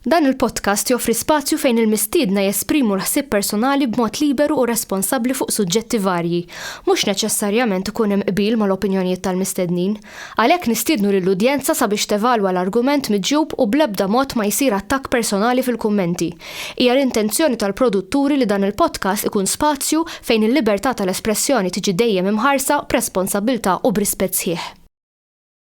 Dan il-podcast joffri spazju fejn il-mistiedna jesprimu l-ħsieb personali b'mod liberu u responsabbli fuq suġġetti varji. Mhux neċessarjament ikun hemm qbil mal-opinjonijiet tal-mistednin. Għalhekk nistiednu lill-udjenza sabiex tevalwa l-argument miġjub u bl-ebda mod ma jsir attakk personali fil-kummenti. Hija l-intenzjoni tal-produtturi li dan il-podcast ikun spazju fejn il-libertà tal-espressjoni tiġi dejjem imħarsa b'responsabbiltà u b'rispett sħiħ.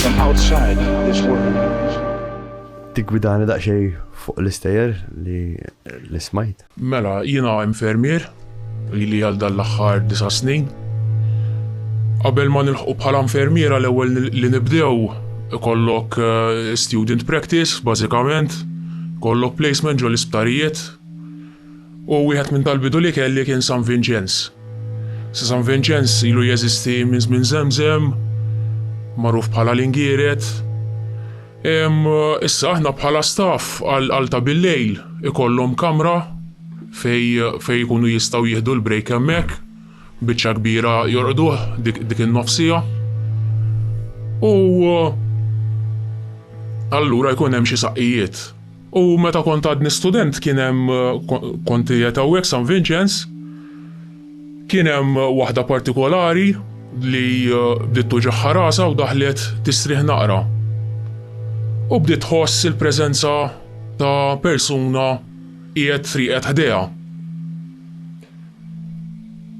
From outside this world. Tiggwidani daqsxejn fuq l-istejjer li li smajt. Mela, jiena infermier, ili għal dan l-aħħar disa' snin. Qabel ma nilħqu bħala infermiera l-ewwel li nibdew ikollok student practice bażikament, ikollok placement ġol-isptarijiet. u wieħed minn tal-bidu li kelli kien San Vinċenz. Sa San Vinċenz ilu jeżisti minn żmien Żemżem, magħruf bħala l-Ingieret. Issa aħna bħala staff għal ta' billejl ikollhom kamra fejn fejn ikunu jistgħu jieħdu l-break hemmhekk, biċċa kbira jorqduh dik dik in-nofsija. U allura jkun hemm xi saqqijiet. U meta kont għadni student kien hemm kont qiegħed hawnhekk San Vinċenz, kien hemm waħda partikolari li bdiet tuġigħha rasha u daħlet tistrieħ naqra. U bdiet tħoss il-preżenza ta' persuna qiegħed friegħed ħdejha.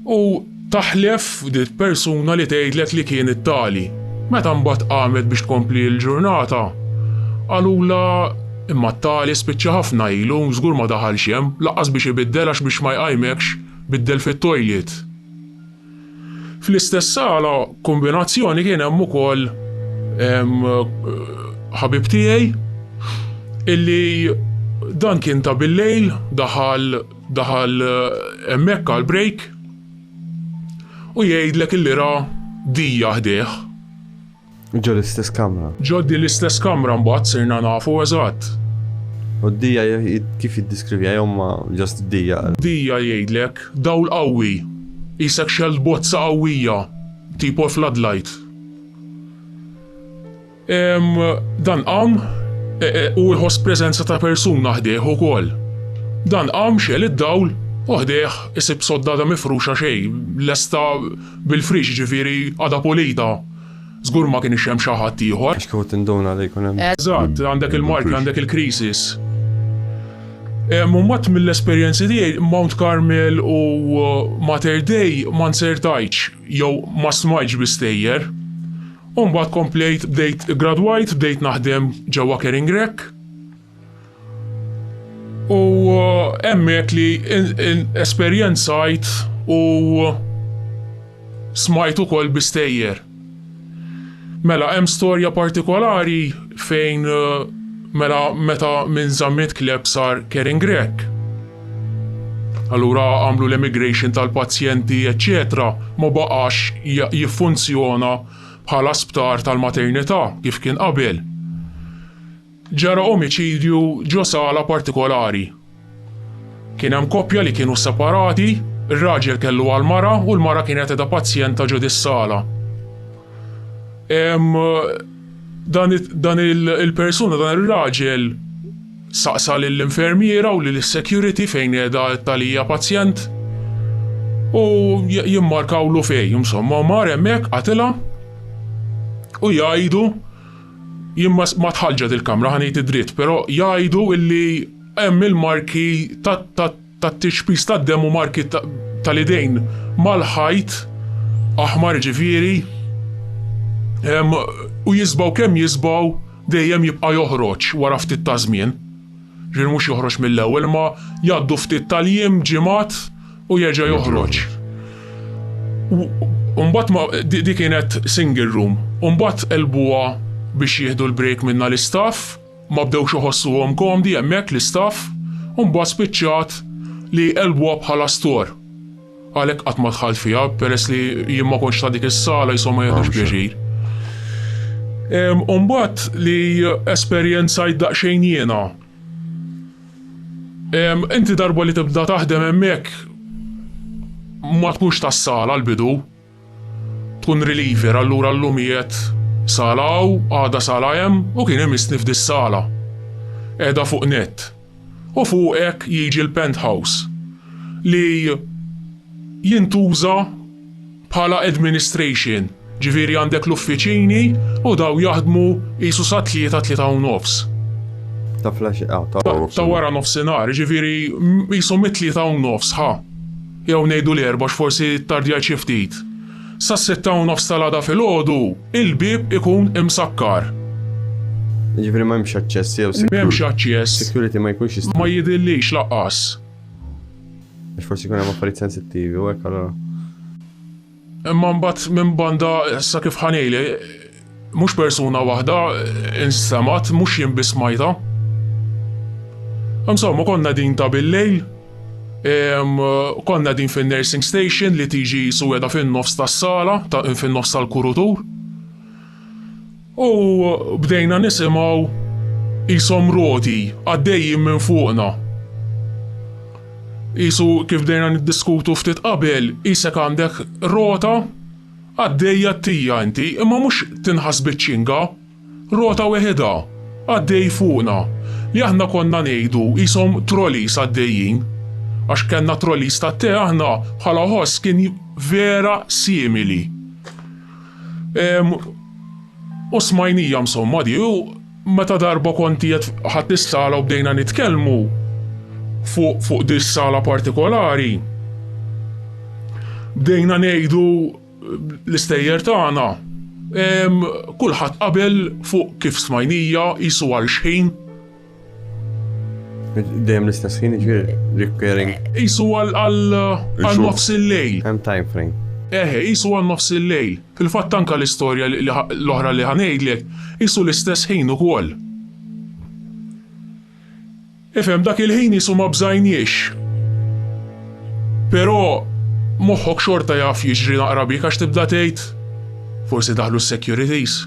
U taħlef f'dil persuna li tgħidlek li kien it-tali. Meta mbagħad qamet biex tkompli l-ġurnata, qalulha, Imma t-tali spiċċa ħafna ilu, żgur ma daħalx hemm, lanqas biex ibiddel għax biex ma jqajmekx, biddel fit-toilet. Fl-istess sala kombinazzjoni kien hemm ukoll ħabib tiegħi illi dan kien ta' billejl daħal Daħal hemmhekk għal break u jgħidlek illi ra dija ħdejh. Ġo l-istess kamra. Ġo di l-istess kamra mbagħad sirna nafu eżatt. U d-dija kif jiddiskrivija jew ma ġast d-dija? Dija jgħidlek dawl qawwi, isek xell bozza qawwija, tipo floodlight. Dan qam e, e, u jħoss preżenza ta' persuna ħdejh ukoll. Dan qam xel id-dawl u ħdejh isib soddada mifruxa xejn, lesta bil-frix ġifieri għada polita. Zgur ma kien ixem xi ħadd ieħor. Għax kieku tinduna li jkun hemm. Eżatt, għandek il-marki, għandek il-krisis. Mummat mill-esperjenzi tiegħi Mount Carmel u uh, Mater Dei ma nsertajċ jew ma smajċ bistejjer. U mbagħad komplejt bdejt gradwajt, bdejt naħdem ġewwa Kering Rek. U eh, hemmhekk li esperjenzajt u smajt ukoll bistejjer. Mela hemm storja partikolari fejn eh, mela meta minn Zammit Kleb sar Kering Rek. Allura għamlu l-emigration tal-pazjenti eċċetera ma baqax jiffunzjona bħala sptar tal-maternità kif kien qabel. Ġara omiċidju ġo sala partikolari. Kien hemm koppja li kienu separati, ir-raġel kellu għall-mara u l-mara kienet qiegħda pazjenta ġo dis-sala. Dan il-persuna dan ir-raġel Staqsa lill-infermiera u lis-security fejn qiegħda t-tagħlija pazjent u jimmarkawlu fejn, insomma, mar hemmhekk qatilha u jgħidu jien ma tħallġet il-kamra ħa ngħid id-dritt, però jgħidu illi hemm il-marki ta' tat-tixbis tad-demm u marki tal-idejn mal-ħajt aħmar jiġifieri u jisbaw kemm jisbaw dejjem jibqa' joħroġ wara ftit ta' żmien. Ġifieri mhux joħroġ mill-ewwel imma jgħaddu ftit tal-jiem, ġimgħat u jerġa' joħroġ. U mbagħad ma di kienet single room u mbagħad qelbuha biex jieħdu l-break minnha l-istaff. Ma bdewx iħossuhom komdi hemmhekk l-istaff u mbagħad spiċċat li qelbuha bħala store. Għalhekk qatt ma dħalt fiha peress li jien ma kontx ta' dik is-sala jisom ma jieħdux pjaċir. U mbagħad li esperjenzajt daqsxejn jiena. Inti darba li tibda taħdem hemmhekk ma tkunx tas-sala l-bidu. Tkun reliever allura llum qiegħed sala hawn, għada sala hemm u kien imissni f'dis-sala. Qiegħda fuq nett. U fuq hekk jiġi l-penthouse li jintuża bħala administration, ġifieri għandek l-uffiċini u dawn jaħdmu qisu sat-tlieta, tlieta u nofs. Ta' wara nofsinhar. Ta' wara nofsinhar, jiġifieri qisu mit-tlieta u nofs, ħa. Jew ngħidu l-erba' għax forsi ttardjajt xi ftit. Sas-sitta u nofs tal-għada filgħodu, il-bieb ikun imsakkar. Jiġifieri m'hemmx aċċess jew security? M'hemmx aċċess. Security ma jkunx jista'. Ma jidhirlix lanqas. Għax forsi jkun hemm affarijiet sensittivi u hekk allura. Imma mbagħad minn banda issa kif ħa ngħidlek, mhux persuna waħda instemgħet, mhux jien biss smajtha. Insomma, konna din ta' bil-lejl, konna din fin-nursing station li tiġi qisu qiegħda fin-nofs tas-sala, fin-nofs tal-kurutur. U bdejna nisimgħu qishom roti għaddejjin minn fuqna. Qisu kif bdejna niddiskutu ftit qabel, qisek għandek rota għaddejja tija inti, imma mhux tinħass biċ-ċinga, rota weħidha għaddej fuqna, li aħna konna ngħidu qishom trolleys għaddejjin, għax kellna trolleys tat-te aħna bħala ħoss kien vera simili. U smajnija msomma di u meta darba kont qiegħed ħadd is-sala u bdejna nitkellmu fuq fuq di sala partikolari. Bdejna ngħidu l-istejjer tagħna. Kulħadd qabel fuq kif smajnija qisu għal xħin. Dejjem l-istess ħin ġifieri repairing. Isu għal għal nofs il-lejl. Hemm time frame. Eħe, isu għal nofs il-lejl. Fil-fatt anka l-istorja l-oħra li ħanejdlek, isu l-istess ħin ukoll. Ifhem dak il-ħin isu ma bżajniex. Però moħħok xorta jaf jiġri naqra bik għax tibda tgħid forsi daħlu s-securities.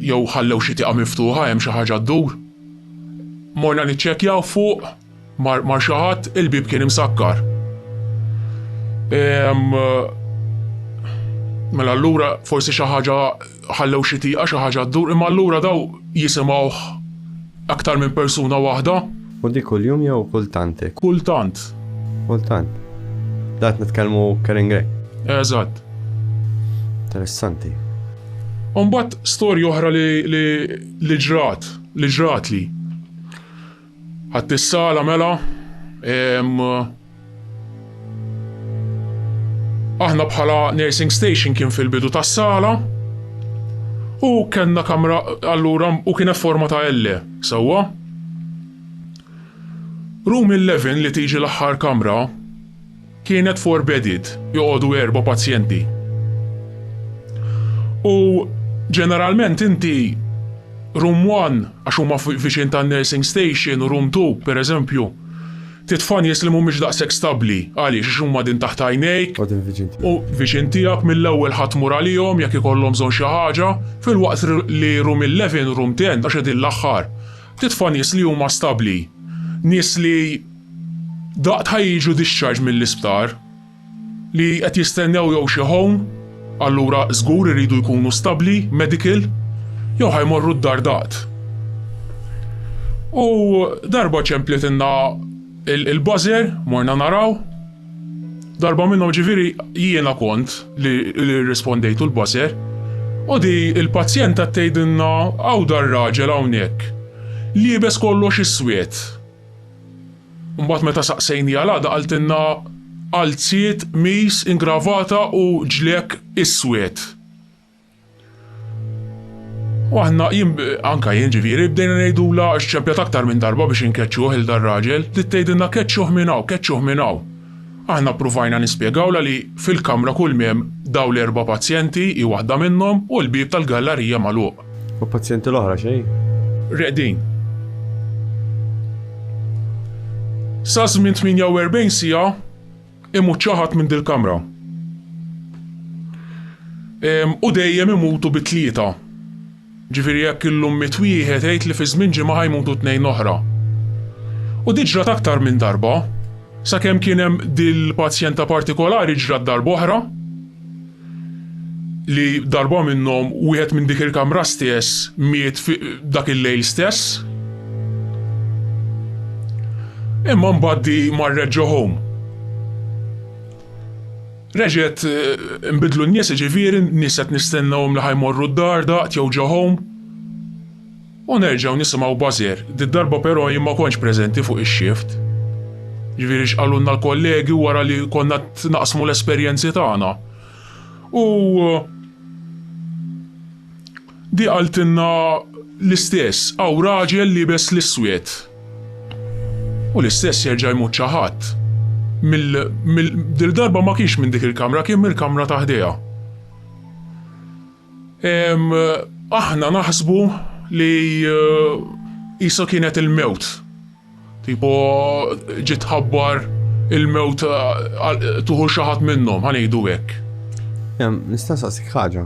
jew ħallew xi tieqa miftuħa hemm xi ħaġa ddur. Morna niċċekkjaw fuq mar, mar xi ħadd il-bieb kien imsakkar. Ehm, mela allura forsi xi ħaġa ħallew xi tieqa xi ħaġa ddur, imma allura daw jisimgħuh Aktar minn persuna waħda? U di kuljum jew kultant hekk? Kultant. Kultant. Da qed nitkellmu Karen Grey. Eżatt. Interessanti. Umbat storja oħra li, li, li ġrat, li ġrat li. Għattissala mela, Aħna bħala nursing station kien fil-bidu tas-sala u kellna kamra allura u kien forma ta' L, sewwa? Room 11 li tiġi l-aħħar kamra kienet four bedded, joqogħdu erba' pazjenti. U ġeneralment inti room 1 għax huma viċin tan-nursing station u room 2 pereżempju, Trid tfa' nies li mhumiex daqshekk stabbli. Għaliex? Għax huma din taħt għajnejk. U din viċin tiegħek. U viċin tiegħek mill-ewwel ħa tmur għalihom jekk ikollhom bżonn xi ħaġa, filwaqt li room eleven, room ten, għax qegħdin l-aħħar. Trid tfa' nies li huma stabbli. Nies li daqt ħa jiġu discharged mill-isptar. li qed jistennew jew xi home, allura żgur iridu jkunu stabbli, medical, jew ħa jmorru d-dar daqt. U darba ċemplietilna il-buzzer, morna naraw. Darba minnhom ġifieri jiena kont li rrispondejtu l-buzzer. U di l-pazjenta tgħidilna hawn dar-raġel hawnhekk, liebes kollox iswed. Mbagħad meta saqsejniha l-għada qaltilna qalziet, qmis, ingravata u ġliek iswed. U aħna jien anke jien ġifieri bdejna ngħidulha xċempjat aktar minn darba biex inkeċċuh il dar-raġel, bdiet tgħidilna keċċuh minn hawn, keċċuh minn hawn. Aħna ppruvajna nispjegawlha li fil-kamra kulmi hemm dawn l-erba' pazjenti, hi waħda minnhom, u l-bieb tal-gallarija magħluq. U l-pazjenti l-oħra xejn? Reqdin. Sa żmien 48 siegħa imut xi ħadd minn dil-kamra. U dejjem imutu bi tlieta. Ġifieri jekk illum miet wieħed għid li fi żmien ġimgħa ħa jmutu tnejn oħra. U di ġrat aktar minn darba. Sakemm kien hemm dil-pazjenta partikolari ġrat darb'oħra li darba minnhom wieħed minn dik il-kamra stess miet fi dak il-lejl stess. Imma mbagħad di marret ġo home. Reġgħet inbidlu n-nies jiġifieri nies qed nistennewhom li ħa jmorru d-dar daqt jew ġo home. U nerġgħu nisimgħu buzzer. Did-darba però jien ma kontx preżenti fuq ix-shift. Jiġifieri x'qalulna l-kollegi wara li konna qed naqsmu l-esperjenzi tagħna. U. Di qaltilna l-istess, hawn raġel liebes l-iswed. U l-istess jerġa' jmut xi ħadd. Mill, mill, dil-darba ma kienx minn dik il-kamra, kien mill-kamra ta' ħdejha. Ehm, aħna naħsbu li qisha kienet il-mewt. Tipo ġiet tħabbar il-mewt tuħu xi ħadd minnhom, ħa ngħidu hekk. Nista' nsaqsik ħaġa.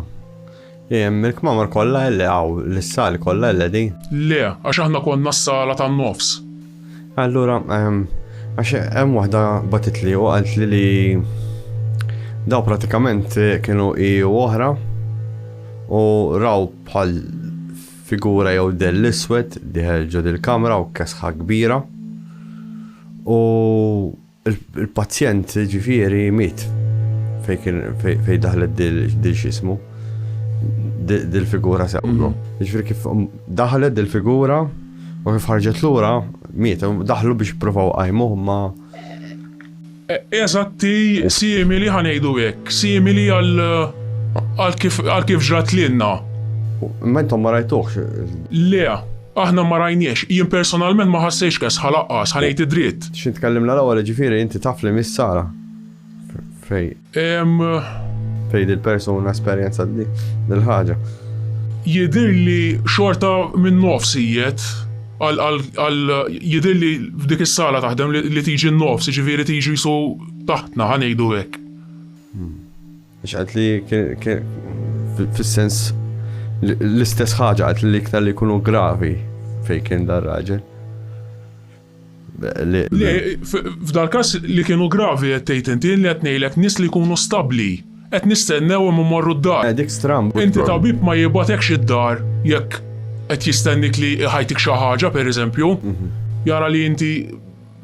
Il-kmamar kollha li hawn l-sali kollha li di? Le, għax aħna konna s-sala tan-nofs. Allura, għax hemm waħda batitli u qalt li li daw pratikament kienu i oħra u raw bħal Figura jew dell iswed dieħel ġo dil-kamra u kesħa kbira. U l-pazjent ġifieri miet fejn kien fejn daħlet dil x'ismu dil-figura sewlu. Ġifieri kif daħlet dil-figura u kif ħarġet lura miet daħlu biex provaw qajmuh ma Eżatti, simili, ħa ngħidu hekk, simili għal għal kif għal kif ġrat lilna. Imma intom ma rajtuhx? Le, aħna ma rajniehx. Jien personalment ma ħassejtx kesħa laqqas, ħa ngħid id-dritt. X'int tkellimna l-ewwel, jiġifieri inti taf li miss Sara? Fej? Ehm. Fej dil-persuna esperjenzat dil-ħaġa? Jidhirli xorta min-nofs ijet. Jidhirli f'dik is-sala taħdem li tiġi n-nofs, jiġifieri tiġi qisu taħtna, ħa ngħidu hekk. Għax qalt li fis-sens l-istess ħaġa qalt li iktar li jkunu gravi fejn kien dar raġel. Le, f'dal każ li kienu gravi qed tgħid inti li qed ngħidlek nies li jkunu stabbli. Qed nistennew imma mmorru d-dar. Eh, dik stramb. Inti tabib ma jibgħatekx id-dar jekk qed jistennik li ħajtik xi ħaġa pereżempju. Mhm. Jara li inti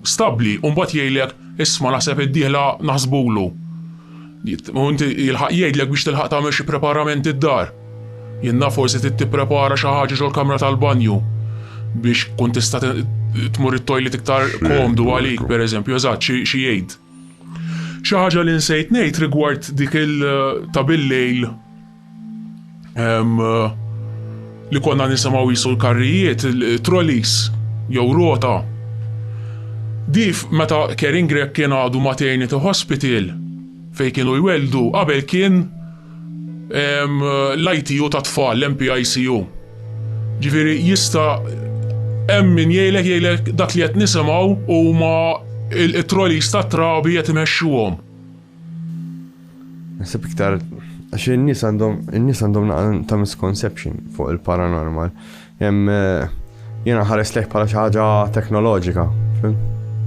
stabbli u mbagħad jgħidlek isma' naħseb id-dieħla naħsbulu. U inti jilħaq jgħidlek biex tilħaq tagħmel xi preparament id-dar. Jenna forsi tipprepara xi ħaġa ġol kamra tal-banju biex kun tista' tmur it-toilet iktar komdu għalik, per eżempju, eżatt xi jgħid. Xi ħaġa li nsejt ngħid rigward dik il ta' billejl li konna nisimgħu jisu l-karrijiet, trolleys jew rota. Dif meta Kering Grek kien għadu maternity hospital fej kienu jweldu qabel kien l-ITU tat-tfal, l-MPICU. Ġifieri jista' hemm min jgħidlek jgħidlek dak li qed nisimgħu huma it-trolleys tat-trabi qed imexxuhom. Naħseb iktar għax in-nies għandhom in-nies għandhom ta' misconception fuq il-paranormal. Jiena nħares lejh bħala xi ħaġa teknoloġika,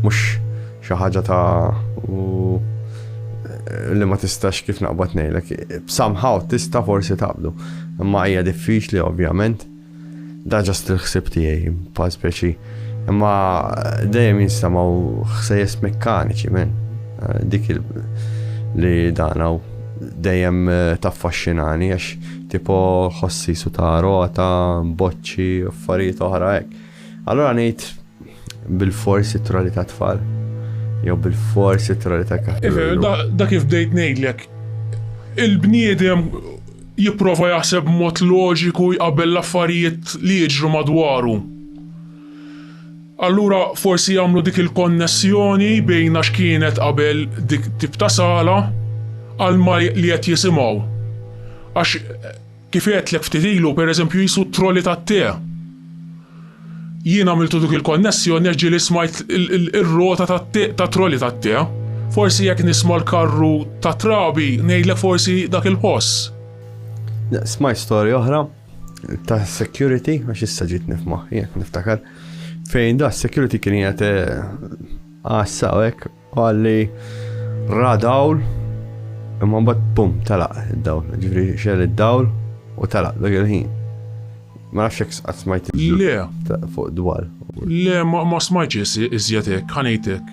mhux xi ħaġa ta' li ma tistax kif naqbad ngħidlek. Somehow tista' forsi taqbdu. Imma hija diffiċli ovvjament. Da ġast il-ħsib tiegħi pa' speċi. Imma dejjem jinstamaw ħsejjes mekkaniċi men. Dik li dan dejjem taffaxxinani għax Tipo ħossisu ta' rota, boċċi, affarijiet oħra hekk. Allura ngħid bil-fors it-troli ta' tfal. Jew bil-fors it-troli ta' kaħħel. Da kif bdejt ngħidlek, il-bniedem jipprova jaħseb mod loġiku jqabel l-affarijiet li jiġru madwaru. Allura forsi jagħmlu dik il-konnessjoni bejn għax kienet qabel dik tip ta' sala għal ma li qed jisimgħu. Għax kif għedtlek ftit ilu pereżempju qisu t-troli tat-te. Jien għamiltu dik il-konnessjoni għax ġieli smajt ir-rota tat-te tat-troli tat-te. Forsi jekk nisma' l-karru tat-trabi ngħidlek forsi dak il-ħoss. Smajt storja oħra. ta' security, għax issa ġitni f'moħħi, jek niftakar, fejn da' security kien jgħat eh, għassa u għek, għalli radawl, imma bat bum, talaq id-dawl, ġifri xel id-dawl u talaq dak il-ħin. Ma nafx jek smajt il-ġu. Le. Fuq dwar. Le, ma smajt iżjatek, ħanejtek.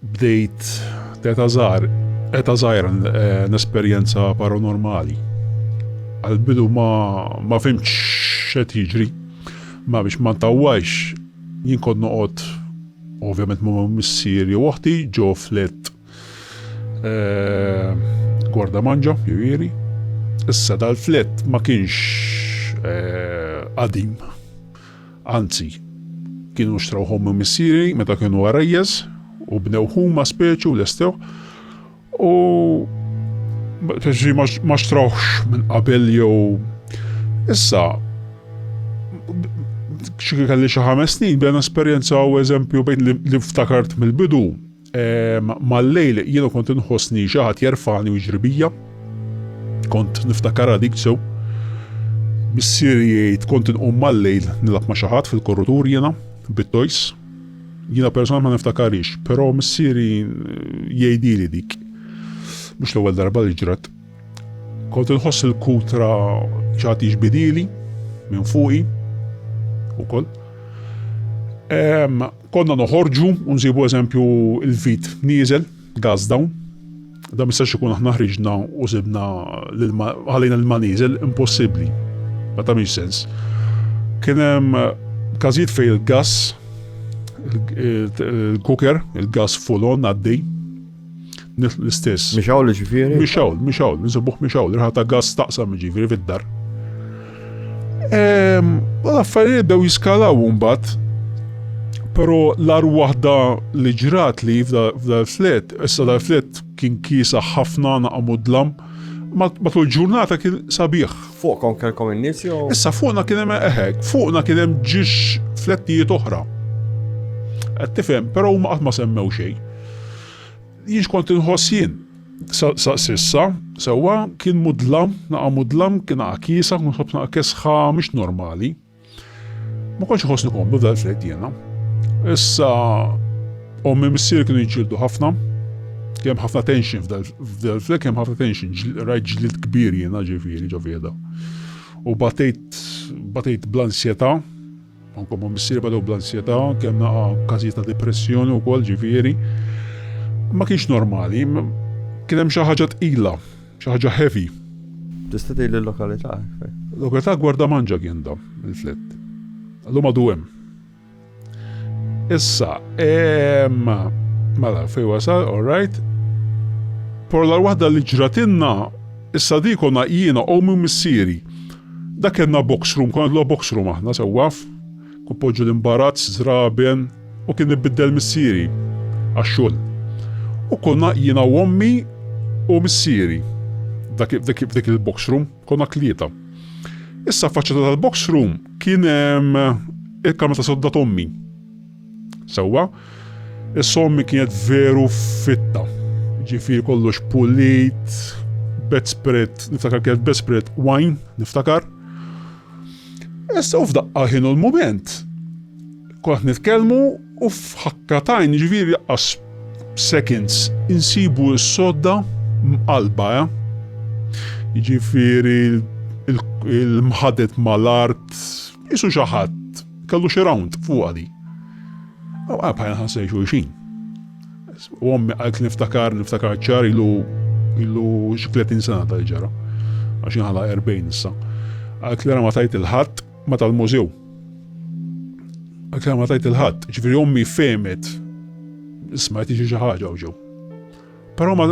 Bdejt t'eta' żgħar, eta' żgħira nesperjenza paranormali. Għall-bidu ma ma fimtx x'qed jiġri, ma biex ma ntawwalx jien kont noqgħod ovvjament ma' missieri u oħti ġo flet gwarda manġa, jiġifieri. Issa dal-flet ma kienx qadim. Anzi, kienu xtrawhom minn missieri meta kienu għarajjeż u bnew huma speċi u lestewh u ma xtrawhx minn qabel jew issa xi kelli xi ħames snin bdejna esperjenzaw eżempju bejn li ftakart mill-bidu Mal-lejl jiena kont inħossni xi ħadd jerfani u jiġri bija. Kont niftakar għalik sew. Missieri jgħid kont inqum mal-lejl nilgħab ma' xi ħadd fil-korrutur jiena bit-tojs. Jiena personalment ma niftakarix, però missieri jgħidili dik. Mhux l-ewwel darba li ġrat. Kont inħoss il-kutra xi ħadd jiġbidili minn fuqi ukoll. Konna noħorġu u nsibu eżempju l-vit nieżel, gas dawn. Da mistax ikun aħna ħriġna u sibna ħalejna l-ma nieżel, impossibbli. Ma tagħmilx sens. Kien hemm każijiet fejn il-gas il-kuker, il-gas full on għaddej, Nitlu l-istess. Mhix hawn ġifieri? Mhix hawn, mhix hawn, insibuh mhix hawn, riħa ta' gass taqsam ġifieri fid-dar. Ehm, u l-affarijiet dew jiskalaw mbagħad. Però l-ar waħda li ġrat li f'dal-flet, issa dal-flet kien kisa ħafna naqamu dlam, matul ġurnata kien sabiħ. Fuqkom kelkom in-nies jew? Issa fuqna kien hemm eħek, fuqna kien hemm ġiex flettijiet oħra. Qed tifhem, però huma qatt ma semmew xejn. Jien x'kont inħoss jien? Sa s'issa, sewwa, kien mudlam, naqa' mudlam, kien naqa' kiesa, kont nħobb naqa' kesħa mhix normali. Ma kontx iħossni komdu f'dal fred jiena. Issa ommi missier kienu jġildu ħafna, kemm ħafna tension f'dal fred, kemm ħafna tension, rajt ġlied kbir jiena ġifieri ġo fieda. U batejt batejt bl-ansjetà Anke ma' missierba daw bl-ansjetà, kellna każijiet ta' depressjoni wkoll ġifieri. Ma kienx normali, kien hemm xi ħaġa tqila, xi ħaġa heavy. Tista' tgħidli l-lokalità? Lokalità Gwardamanġa kien da l-flett. Llum għadu hemm. Issa, mela fejn wasal, all right. Però l-waħda li ġratilna issa di konna jiena, ommi u missieri. Dak kellna box room, konna nilgħu box room aħna sewwa. Kont poġġu l-imbarazz, żraben u kien ibiddel missieri għax-xogħol. U konna jiena u ommi u missieri f'dik il-box room, konna tlieta. Issa faċċata tal-box room kien hemm il-kamra ta' sodda t'ommi. Sewwa, is-sommi kienet veru fitta. Ġifieri kollox pulit, bedspread, niftakar kienet bedspread wine, niftakar. Issa u f'daqqa ħinu l-mument. Kont nitkellmu u f'ħakka tajn ġifieri laqqas seconds insibu s-sodda mqalba, eh? Ġifieri il-mħadet mal-art, Qisu xi ħadd kellu xi rawnd fuqha di. Aw bħajna ħass lejn xulxin. U ommi qaltli niftakar, niftakar ċar ilu ilu xi 30 sena tal-ġara. Għax inħala 40 issa. Qaltli ma tajt il-ħadd ma tal-mużew. Qaltli ma tajt il-ħadd, ġifieri ommi femet smajt xi ħaġa u ġew. Però ma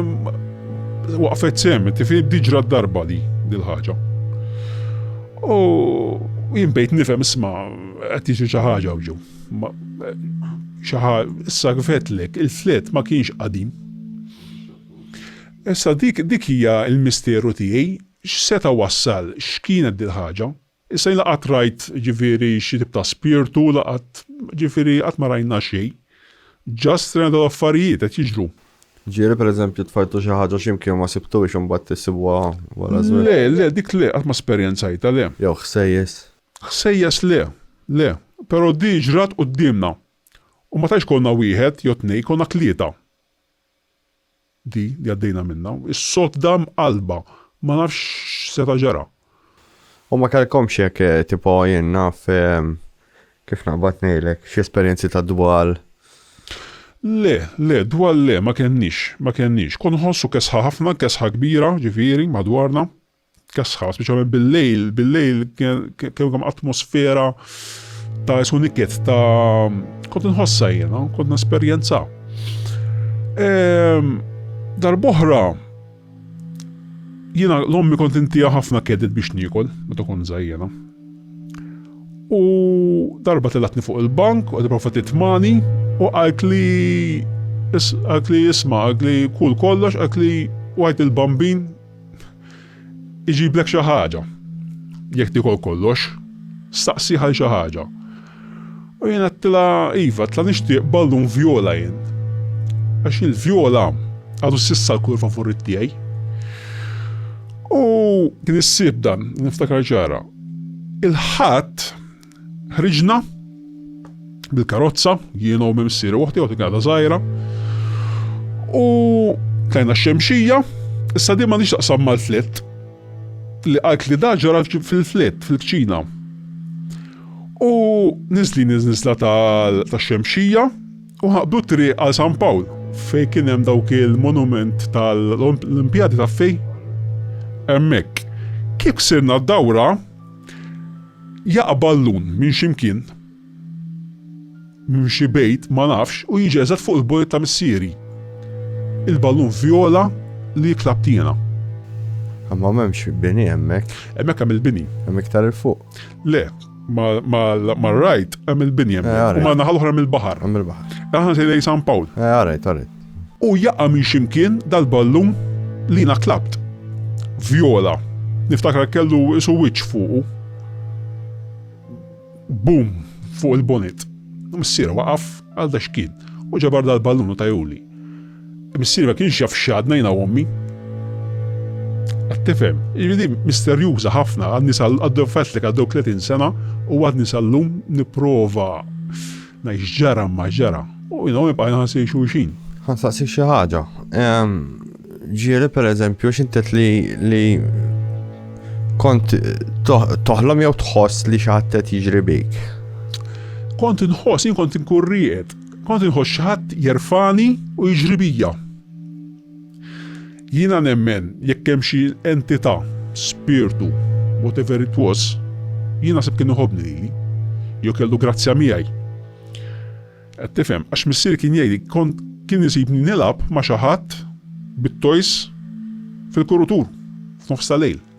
waqfet sem, tifi diġra d-darba di dil-ħaġa. U jien bejt nifhem isma' qed jiġi xi ħaġa ġew. Xi issa kifetlek il-flet ma kienx qadim. Issa dik dik hija l-misteru tiegħi x'seta wassal x'kienet dil-ħaġa. Issa jiena qatt rajt ġifieri xi tip ta' spirtu la qatt ġifieri qatt ma rajna xejn. Just rajna dawn l-affarijiet qed jiġru. Ġieli pereżempju tfajtu xi ħaġa xi mkien u ma sibtuhiex u mbagħad issibuha wara żmien? Le, le, dik le, qatt ma esperjenzajtha, le. Jew ħsejjes? Ħsejjes le, le. Però di ġrat quddiemna. U ma tantx konna wieħed jew tnejn, konna tlieta. di li għaddejna minnha, is-sodda mqallba, ma nafx x'seta' ġara. U ma kellkomx jekk tipo jien naf kif naqbad ngħidlek, xi esperjenzi ta' dwal? Le, le, dwal le, ma kenniex, ma kenniex. Kont nħossu kesħa ħafna, kesħa kbira, ġifieri, madwarna. Tkasħa, speċjalment bil-lejl, bil-lejl kemm kemm atmosfera ta' isu niket ta' kont nħossa jiena, kont nesperjenza. Ehm, Darboħra jiena l-ommi kont intija ħafna kedet biex niekol, meta kont żajjena. U darba telatni fuq il-bank, u għadibra fatit mani, u għalt li għalt li jisma, għalt li kull kollox, għalt li għajt il-bambin Iġiblek xi ħaġa. Jekk tikol kollox, staqsi għal xi ħaġa. U jien għattila iva, tla nixtieq ballun vjola jien. Għax il-vjola għadu sissa l-kulur favorit tiegħi. U kien issib dan, niftakar ġara. Il-ħadd Ħriġna bil-karozza, jiena u mimsir u uħti, uħti għada zaħira. U tajna xemxija, issa di ma nix taqsam mal-flet. Li għalt li daġara fil-flet, fil-kċina. U nizli nizla ta' xemxija u ħabdu tri għal San Pawl fej kien hemm dawk il-monument tal-Olimpjadi ta' fej. Hemmhekk. Kif sirna d-dawra, Jaqbad l-un minn xi mkien, minn xi bejt ma nafx u jiġi eżatt fuq il-bord ta' missieri. Il-ballun vjola li jikla b'tiena. Imma m'hemmx bini hemmhekk. Hemmhekk hemm il-bini. Hemm iktar 'il fuq. Le, mar-right hemm il-bini hemmhekk u man-naħa l-oħra hemm il-baħar. Hemm il-baħar. Aħna sejrin lejn San Pawl. Eh, għarajt, għarajt. U jaqa' minn xi mkien dal-ballun li jiena tlabt. Vjola. Niftakar kellu qisu wiċċ fuqu. Boom! Fuq il-bonit. Missier waqaf għal dexkien u ġabar dal-ballun u tajhuli. Missieri ma kienx jaf x'għadna jiena u ommi. Qed tifhem? Jiġifieri din misterjuża ħafna, għadni sal-, għaddew fettlek għaddew tletin sena u għadni sal-lum nipprova. Ngħid x'ġara ma ġara. U jina ma bqajna ħansej xulxin. Ħansaqsik xi ħaġa. Ehm, ġieli per eżempju, xintet li li kont toħlom jew tħoss li xaħat qed jiġri bik? Kont inħoss, jien kont inkurriet, kont inħoss xaħat jerfani u jiġri bija. Jiena nemmen jekk hemm xi entità, spirtu, whatever it was, jien naħseb kien iħobbni lili, jew kellu grazzja miegħi. Qed tifhem? Għax missieri kien jgħidli kont kien isibni nilgħab ma' xi ħadd bit-toys fil-kurutur f'nofs ta' lejl.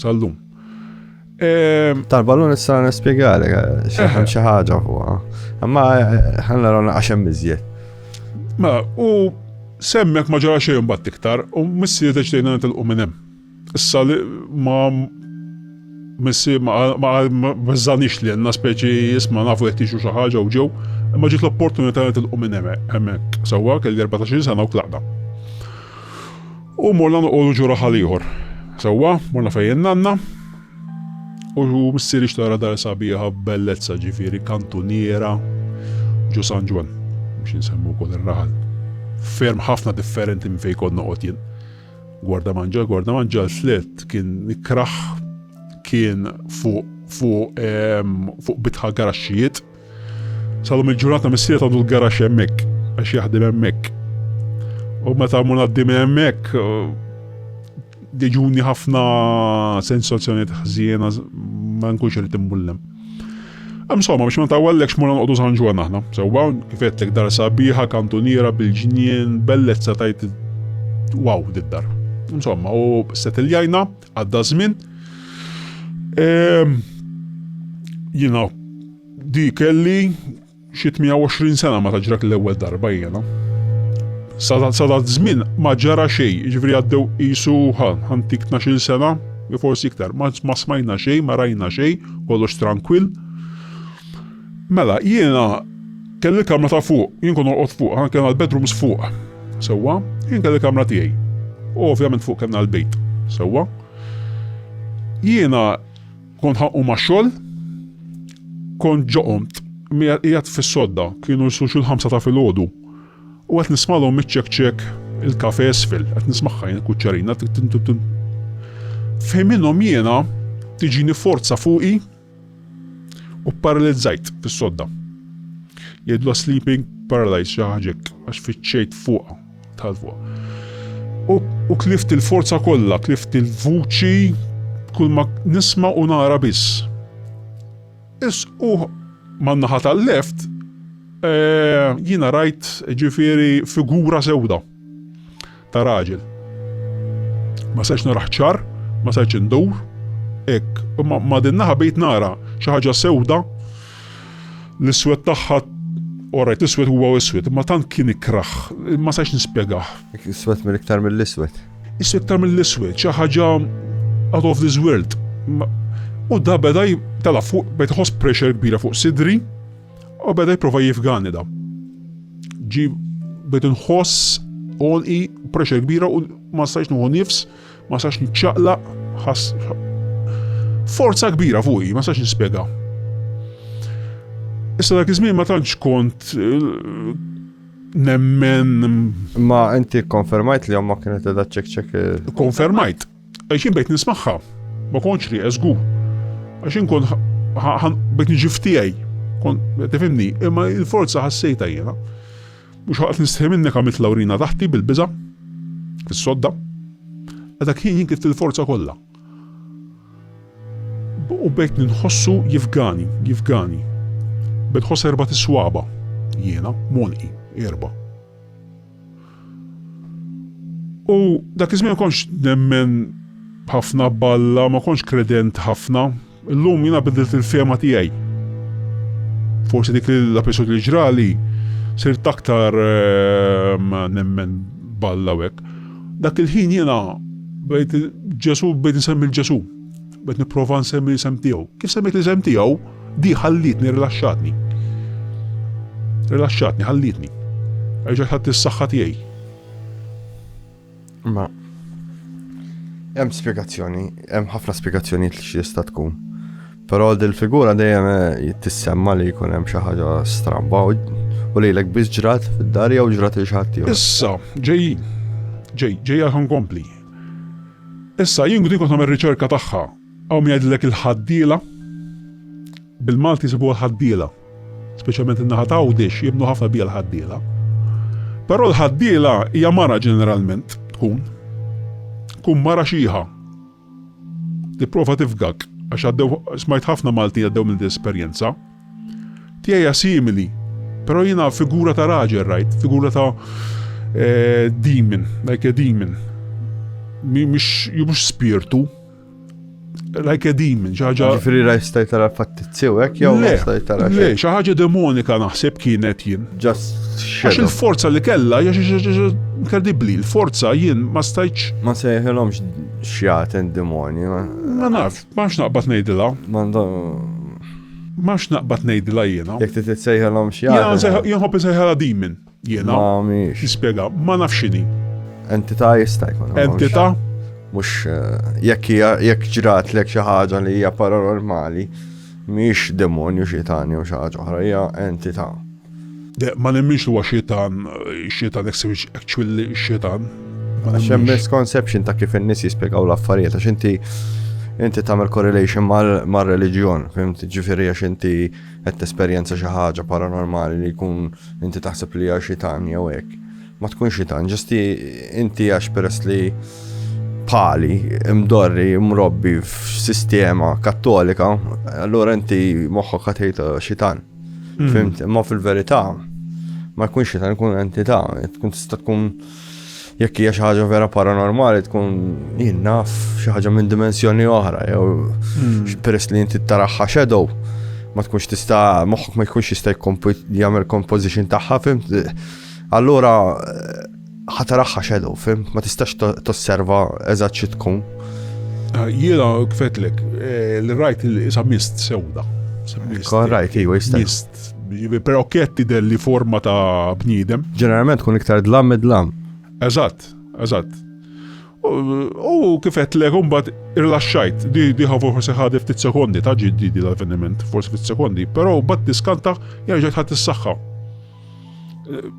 Sallum. Ehm, Tal-ballun issa nispjegali eh, xaħan xi ħaġa fuqha. Imma eh, ħanna rona għaxem miżjed. Ma u semmek ma ġara xejn bat iktar u missi deċdejna nitilqu minn hemm. Issa li ma missi ma bżanix li għanna speċi jisma nafu jettixu xi ħaġa u ġew, imma ġiet l-opportunità nitilqu minn hemmhekk. Sewwa kelli 14 sena u tlaqda. U morna noqogħdu ġo raħal ieħor. Sewwa, morna fejn nanna. U missier ixtara dar sabiħa b'bellezza ġifieri kantuniera ġo San Ġwan biex insemmu wkoll ir-raħal. Ferm ħafna differenti minn fejn kont noqgħod jien. Gwarda manġa, gwarda manġa l-flet kien ikraħ kien fuq fuq ehm, fuq bitħa garaxxijiet Salum il-ġurnata missier għandu l-garax hemmhekk għax jaħdem hemmhekk. U meta mmur għaddi minn hemmhekk diġuni ħafna sensazzjonijiet ħżiena ma nkunx irid imbullem. Insomma, biex ma tawallek xmur nqodu San Ġwan aħna. Sewwa, kifetlek dar sabiħa, kantuniera bil-ġnien, bellezza tajt wow did-dar. Insomma, u settiljajna, Għadda żmien. Jiena di kelli xi 120 sena ma taġrak l-ewwel darba jiena. Sadat żmien ma ġara xejn, jiġifieri għaddew qisu ħantik 12 sena, forsi iktar, ma smajna xejn, ma rajna xejn, kollox tranquill. Mela, jiena kelli kamra ta' fuq, jien kont norqod fuq, aħna kellna l-bedrooms fuq. Sewwa, jien kelli kamra tiegħi. U ovvjament fuq kellna l-bejt. Sewwa. Jiena kont ħanqu ma' xogħol, kont ġoqomt, qiegħed fis-sodda, kienu jsu xi l-ħamsa ta' filgħodu. U qed nismalhom miċċekċek il-kafe isfel, qed nismagħha jien kuċċarina. F'ħin minnhom jiena tiġini forza fuqi U paralizzajt fis-sodda. Jgħidlu sleeping paralyzed xi ħaġa hekk għax fiċċejt fuqha tal fuq. U, u klift il-forza kollha, klift il-vuċi kull ma nisma' u nara biss. Is u man-naħa tal-left eh, jiena rajt ġifieri figura sewda. ta' raġel. Ma setx narah ċar, ma setx indur, hekk, imma ma' din naħa bejt nara xi ħaġa sewda l-iswed tagħha orajt iswed huwa iswed, imma tant kien ikraħ, ma setx nispjegah. Iswed minn iktar mill-iswed. Iswed iktar mill-iswed, xi ħaġa out of this world. U da beda tela fuq bejt ħoss pressure kbira fuq sidri, U beda jipprova jifgani da. Ġi bed inħoss onqi pressure kbira u ma stajx nuħu nifs, ma stajx niċċaqlaq, ħass forza kbira fuqi, ma stajx nispjega. Issa dak iż-żmien ma tantx kont eh, nemmen. Ma inti konfermajt li omma kienet edha ċek ċek. Konfermajt. Għax jien bejt nismagħha, ma kontx rieqes żgur. Għax jien kont bejt niġi f'tiegħi. Tifhimni, imma il-forza ħassejta jiena. Mhux ħaqt nistħi minnek għamilt Lawrina taħti bil-biża' fis-sodda. Għadha kien jien kif il-forza kollha. U bejt ninħossu jifgani, jifgani. Bejt ħoss erba' tiswaba jiena, monqi, erba'. U dak iż-żmien ma kontx nemmen ħafna b'Alla, ma kontx kredent ħafna. Illum jiena bidilt il-fehma tiegħi. Forsi dik l-episodju li ġrali sirt aktar ehm, nemmen b'Alla u hekk. Dak il-ħin jiena bdejt Ġesù bdejt insemmi l-Ġesù. Bed nipprova nsemmi l-isem tiegħu. Kif semmejt l-isem tiegħu, di ħallitni rilaxxatni. Rilaxxatni, ħallitni. Erġa' ħadd is-saħħa tiegħi. Ma hemm spjegazzjoni, hemm ħafna spjegazzjoni li xi jista' tkun. Però dil-figura dejjem eh, tissemma li jkun hemm xi ħaġa stramba u lejlek biss ġrat fid-dar jew ġrat il xi ħadd Issa, ġej, ġej, ġej għal kompli. Issa, jien kont nagħmel riċerka tagħha. Hawn min jgħidilek il-ħaddiela. Bil-Malti jsibuha l-ħaddiela. Speċjalment in-naħa ta' Għawdex jemmnu ħafna bija l-ħaddiela. Però l-ħaddiela hija mara ġeneralment tkun. Tkun mara xieħa. Tipprova tifgak għax għaddew smajt ħafna Malti għaddew minn din esperjenza. Tiegħi hija simili, però jiena figura ta' raġel rajt, figura ta' eh, demon, like a demon. Mhux mhux spirtu, like a demon, ġaġa. Ġifiri raj stajt tara fattizzew, ek jew stajt tara. Le, ħaġa demonika naħseb kienet jien. Just Għax il-forza li kella, inkredibli, il-forza jien ma stajċ. Ma sejħilomx xjaten demoni. Ma naf, ma nafx naqbad nejdila. Ma M'għadx naqbad ngħidilha jiena. Jekk trid issejħilhom xi ħaġa. Jiena nsejħ, jien nħobb insejħilha demon jiena. Ma mhix. Nispjega, ma nafx x'inhi. Entità jista' jkun. mhux- Entità? Mhux eh, jekk hija jekk ġratlek xi ħaġa li hija paranormali, mhix demonju xi tani jew xi ħaġa oħra, hija entità. Ma nemminx li huwa xitan, xitan eksewġ actually xitan. Għax hemm misconception ta' kif in-nies jispjegaw l-affarijiet għax inti inti tagħmel correlation mar-reliġjon, fimti ġifieri għax inti qed tesperjenza xi ħaġa paranormali li jkun inti taħseb li hija xitan jew hekk. Ma tkunx xitan, ġesti inti għax peress li pali, mdorri, mrobbi f'sistema kattolika, allura inti moħħok ħatejta xitan. Hmm. Fimt, ma fil-verità, ma jkunx ta' nkun entità, tkun tista' tkun jekk hija xi ħaġa vera paranormali tkun jinnaf xi ħaġa minn dimensjoni oħra jew hmm. peress li inti taraħħa shadow ma tkunx tista' moħħok ma jkunx jista' jagħmel composition tagħha fimt. Allura Ħa taraħħa xedow, fim, ma tistax tosserva eżatt xi tkun. Ah, jiena kfetlek, eh, li rajt isa mist sewda. Kon rajt, iwa jista. Mist. Pero ketti delli forma ta' bniedem. Ġeneralment kun iktar dlam id-dlam. Eżatt, eżatt. U kifet le kumbat irlaxxajt, di diħa forse ħadef ftit sekondi ta' ġiddi di l-avveniment, forse ftit sekondi, pero bat diskanta jarġet ħat s-saxħa.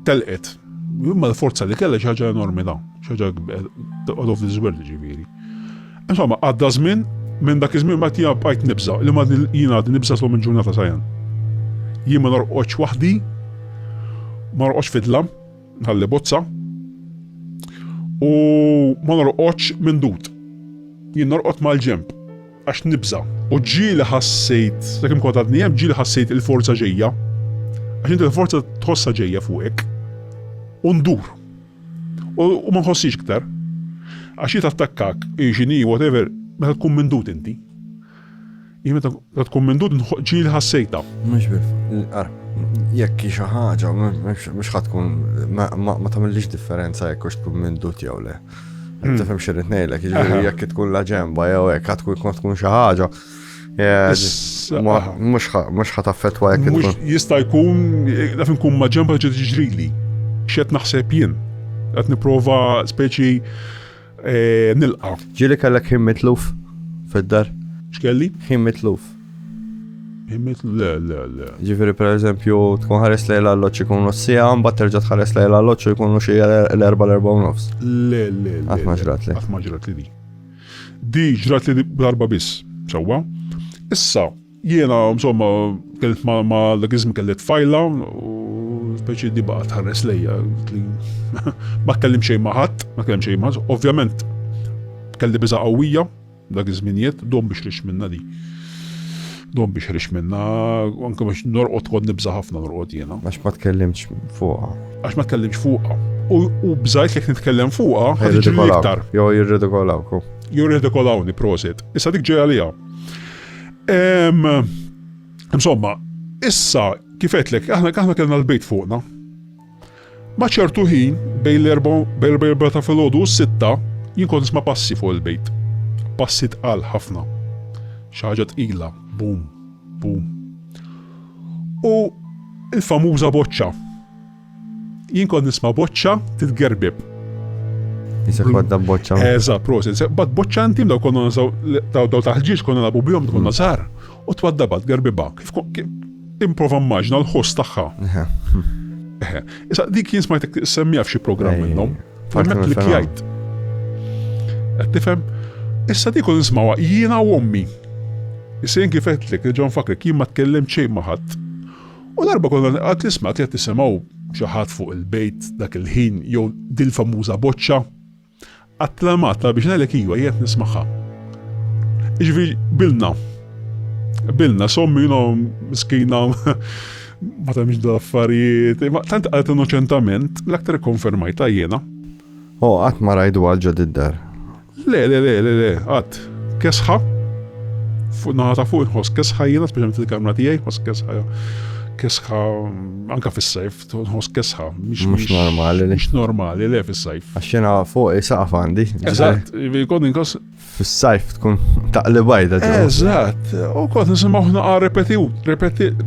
Telqet. Imma l-forza li kellha xi ħaġa enormi da, xi ħaġa out of this world ġifieri. Insomma, għadda żmien minn dak iż-żmien ma tiegħu bqajt nibża, li ma jien għad nibża slom il-ġurnata sajan. Jien ma norqodx waħdi, ma norqodx fidla, ħalli bozza, u ma norqodx minn dut. Jien norqod mal-ġemp. Għax nibża'. U ġieli ħassejt, sakemm kont għadni hemm, ġieli ħassejt il-forza ġejja, għax inti l-forza tħossha ġejja fuqek, u ndur. U ma nħossix iktar. Għax hi tattakkak, hi x'inhi, whatever, meta tkun mindut inti. Hi meta tkun mindut ġieli ħassejtha. Mhux bil. Ara, jekk hi xi ħaġa, mhux ħadd tkun ma tagħmilix differenza jekk hux tkun mindut jew le. Tifhem xirrid ngħidlek, jiġifieri jekk tkun la ġemba jew hekk għad tkun tkun xi ħaġa. Mhux ħa taffettwa jekk tkun. Jista' jkun naf inkun ma' ġemba ġed jiġrili. X'qed naħseb jien. Qed nipprova speċi eh, nilqa'. Ġieli kellek ħin mitluf fid-dar? X'kelli? Ħin mitluf. Immit le, le, le. Ġifiri per eżempju, tkun ħares lejn l-alloċ ikunu s-sija, mbagħad terġa' tħares lejn l-alloċ u jkunu xi l-erba' l-erba' u nofs. Le, le, le. Qatt ma ġrat li. Qatt ma ġrat li di. Di ġrat li darba biss, sewwa. Issa, jiena, insomma, kellet ma dak iżmi kellet fajla, speċi di baqa tħares lejja. Ma kellim xejn ma ħadd, ma kellim xejn ma Ovvjament, kelli biża qawwija, Dak iż-żmien jgħid, Dom biex rix minnha di. Dom biex rix minnha, anke biex norqod kont nibża' ħafna norqod jiena. Għax ma tkellimx fuqha. Għax ma tkellimx fuqha. U bżajt jekk nitkellem fuqha, ħaġġi iktar. Jo jirridikolawku. Jo jirridikolawni, prosit. Issa dik ġej għalija. Insomma, issa kifetlek, aħna kellna l-bejt fuqna. Ma' ċertu ħin, bejn l-erbgħa bejn l-erbgħa ta' filgħodu u s-sitta, jien kont nisma' passi fuq il-bejt. Passi tqal ħafna. Xi ħaġa tqila, bum, bum. U il-famuża boċċa. Jien kont nisma' boċċa titgerbeb. Jisek badda boċċa. Eża, prosit. Bad boċċa intim daw konna nazaw, daw daw taħġiġ konna nabu bjom, konna zar. U twaddabat gerbiba, kif improva mmaġna l-ħoss tagħha. Issa dik jien smajtek semmija f'xi programm minnhom. Farmet li kjajt. Qed tifhem? Issa dik kun nismawha jiena u ommi. Issa jien kif qedlek, ġon fakrek jien ma tkellem xejn ma ħadd. U darba konna qed nisma' qed tisimgħu xi ħadd fuq il-bejt dak il-ħin jew dil-famuża boċċa Għat-tlamat ta' biex ngħidlek iva qiegħed nismagħha. Jiġifieri bilna. Bilna sommi jinom miskina ma tagħmilx da affarijiet. Tant qalet innoċentament l-aktar konfermajta jiena. Oh, qatt ma rajdu għal ġod id-dar. Le, le, le, le, le, qatt. Kesħa, fuq naħata fuq inħoss kesħa jiena, speċjalment il-kamra tiegħi, ħoss kesħa kesħa anka fis-sajf, Nħoss kesħa, mhux normali. Mhux normali, le fis-sajf. Għax jiena fuq isaqaf għandi. Eżatt, kont inkoss. Fis-sajf tkun taqli bajda. Eżatt, u kont nisimgħu ħnaqa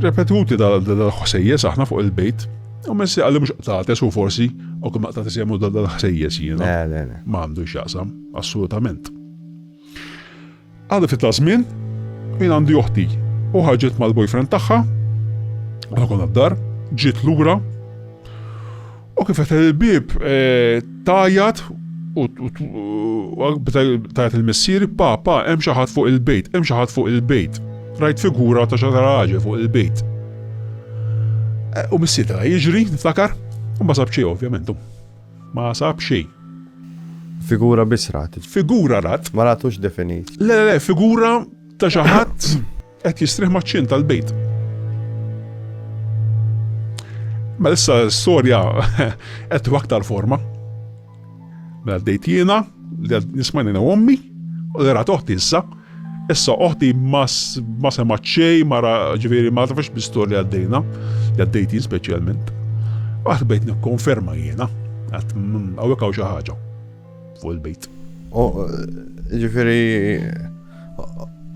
repetuti dal-ħsejjes aħna fuq il-bejt. U messi għalli mux qtates u forsi, u kum qtates jemmu dal-ħsejjes jiena. Ma għandu xaqsam, assolutament. Għadha ftit ta' żmien, jien għandi oħti u ħarġet mal-boyfriend tagħha, aħna konna d-dar, ġiet lura u kif qed il-bib eh, tajat u tajat il-missieri papa hemm xi ħadd fuq il-bejt, hemm xi ħadd fuq il-bejt. Rajt figura ta' xi raġel fuq il-bejt. Eh, u missier ta' jiġri, niftakar, u ma sabċi ovvjament. Ma sab xejn. Figura biss rat. Figura rat. Ma ratux definit. Le, le, le, figura ta' xi ħadd qed jistrieħ maċ-ċin tal-bejt. Ma mela issa storja qed aktar forma. Mela dejt jiena li nismani na ommi u li rat oħti issa Issa oħti ma semgħet xejn, mara ġifieri ma tafx bistor li għaddejna, li għaddejti speċjalment. Għad bejt nikkonferma jiena, għad mm, hawnhekk hawn xi ħaġa fuq il-bejt. Ġifieri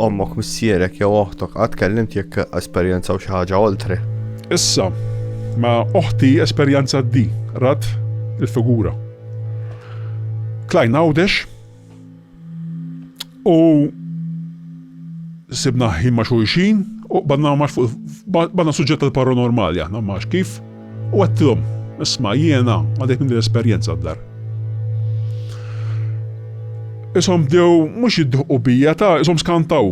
ommok missierek jew oħtok għad kellimt jekk esperjenza u xi ħaġa oltre. Issa, ma oħti esperjenza di, rat il-figura. Klajn għawdex, U sibna ħin ma' xulxin u qbadna ma' fuq banna suġġett tal-paranormali aħna ma' kif u għattilhom isma' jiena għadek minn l-esperjenza d-dar. Isom dew mhux jiddiħqu bija ta' isom skantaw.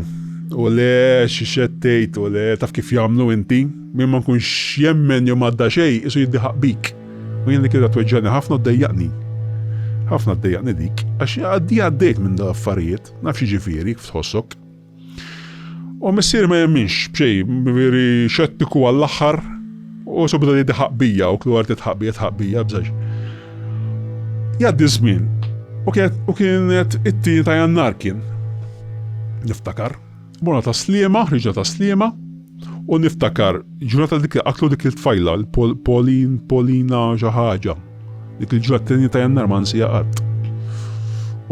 U le xixettejt u le taf kif jagħmlu inti, minn ma nkunx jemmen jew madda xejn isu jiddiħaq bik. U jien dik il-għada tweġġagħni ħafna u ddejjaqni. Ħafna ddejjaqni dik, għax għaddi għaddejt minn dawn l-affarijiet, naf x'jiġifieri kif tħossok. U missieri ma jemminx b'xejn, veri xettiku għall-aħħar, u subita li diħaq bija, u klu għarti tħaq bija, tħaq bija, bżax. Jaddi żmien, u kienet it-tieni ta' jannar kien. Niftakar. Morna ta' Sliema, ħriġna ta' Sliema u niftakar ġurnata dik li qatlu dik il-tfajla, Polin, Polina xi ħaġa. Dik il-ġurnata t-tnejn ta' Jannar ma nsija qatt.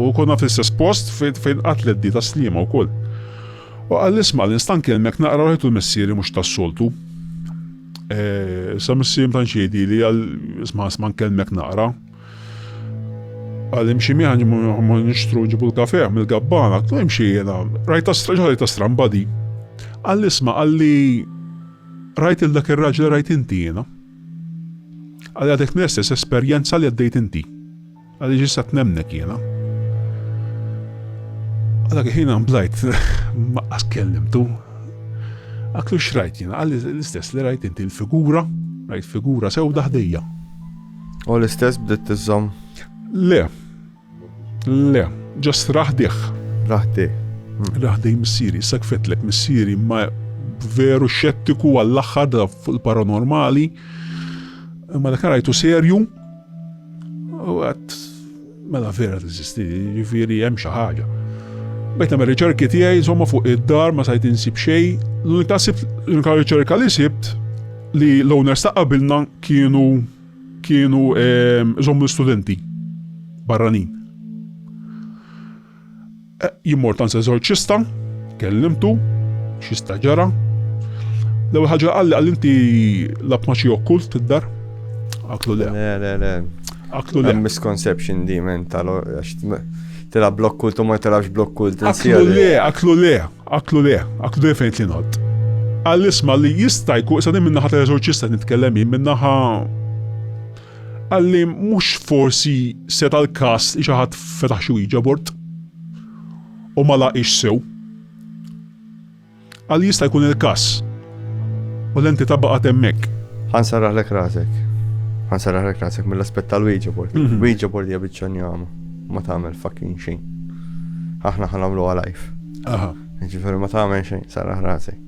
U konna fl-istess post fejn qatlet di ta' Sliema wkoll. U qal isma' li nstan kelmek naqra rajtu l-missieri mhux tas-soltu. Eh, sa missieri ma tantx jgħidili għal isma' isma' nkellmek naqra. Għal imxi miħan ma nixtru ġibu l-kafe mill-gabbana, tu imxi jena, rajta straġa rajta stramba di. Għal isma għalli rajt il-dak il-raġel rajt inti jena. Għal għadek nestess esperjenza li għaddejt inti. Għalli ġisat nemnek jena. Għadak ħina mblajt, ma kellim tu. Għaklu xrajt jena, għalli l-istess li rajt inti l-figura, rajt figura sew daħdejja. U l-istess bdiet tiżżomm? Le. Le. Ġast raħdih. Raħdih. Raħdej missieri, issa kfetlek missieri ma veru xettiku għall-aħħar da fuq il-paranormali. Ma dak rajtu serju. U għat Mela vera teżisti, jiġifieri hemm xi ħaġa. Bdejt nagħmel riċerki tiegħi insomma fuq id-dar ma sajt insib xejn. L-unika sibt l-unika riċerka li sibt li l-owners ta' qabilna kienu kienu ehm, żommu studenti barranin. Jien mort għand eżorċista, kellimtu, xista ġara. L-ewwel ħaġa qalli qal inti lab ma xi okkult id-dar. Aklu le. Le, le, le. Aklu le. Misconception di men tal tilab blok kult u ma tilabx blok kult. Aklu le, aklu le, aklu le, aklu le fejn tinħott. Għall-isma li jista' jkun sa' minnaħa tal-eżorċista nitkellem minnaħa Qalli mhux forsi seta' l-każ li xi ħadd fetaħ xi Ouija board u ma laqgħiex sew. Qalli jista' jkun il-każ u l-entità baqgħet hemmhekk. Ħa nsarraħlek rasek. Ħa nsarraħlek rasek mill-aspett tal-Ouija board. Mhm. Ouija board hija biċċa njama. Ma tagħmel fucking xejn. Aħna ħa nagħmluha live. Aha. Ġifieri ma tagħmel xejn, sarraħ rasek.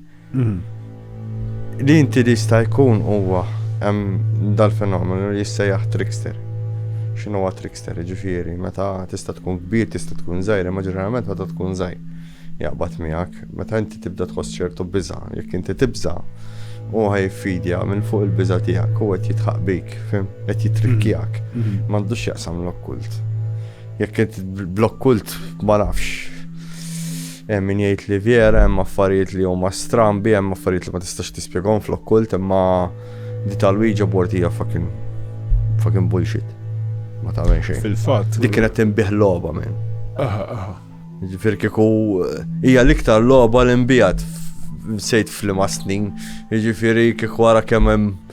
Li inti li jista' jkun huwa hemm dal-fenomenu li jissejjaħ trickster. X'inhu huwa trickster, jiġifieri meta tista' tkun kbir, tista' tkun żgħir, imma ġeneralment meta tkun żgħir jaqbad miegħek. Meta inti tibda tħoss ċertu biża, jekk inti tibża, u ħajfidja minn fuq il-biża tiegħek u qed jitħaq bik, qed jitrikkjak, mm-hmm. m'għandux jaqsam l-okkult. Jekk int blok kult ma nafx. Hemm min jgħid li vera hemm affarijiet li huma strambi, hemm affarijiet li ma tistax tispjegahom flok kult imma di tal-Ouija board hija fucking fucking bullshit. Ma tagħmel xejn. Fil-fatt. Dik kienet tinbih logħba minn. Aha, aha. Ġifier kieku eh, hija l-iktar logħba li nbijat sejt flima snin. Ġifieri kieku wara kemm hemm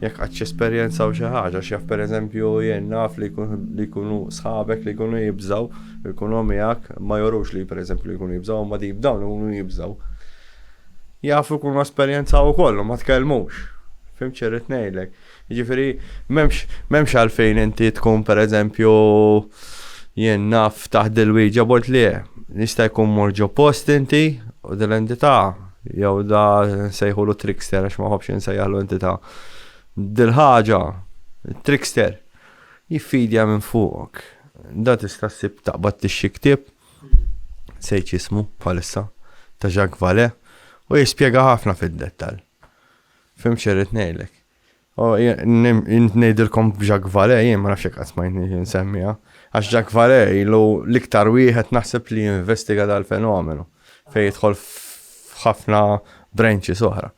Jekk qatt jesperjenzaw xi ħaġa, għax jaf pereżempju jien naf li jkunu sħabek li jkunu jibżgħu, jkunu miegħek, ma jurux li pereżempju li jkunu jibżgħu, imma deep down ikunu jibżgħu. Jafu jkunu esperjenzaw ukoll u ma tkellmux. Fim xirrid ngħidlek. Jiġifieri m'hemmx għalfejn inti tkun pereżempju jien naf taħt dil-wieġa bort li nista' jkun mor ġo post inti u dil-entità Jew da nsejħulu trickster għax ma ħobbx insejjaħlu entità. Dil-ħaġa, trickster, jiffidja minn fuqok. Da tista' ssib taqbad tixxi ktieb, nsejt x'ismu bħalissa, ta' Jacques Vallée, u jispjega ħafna fid-dettall. Fhimt x'irrid ngħidlek? Oh, int nejdilkom Jacques Vale, jien ma nafx jekk smajtni nsemmiha. Għax Jacques Vale ilu l-iktar wieħed naħseb li investiga dal-fenomenu fejn jidħol f'ħafna branches oħra.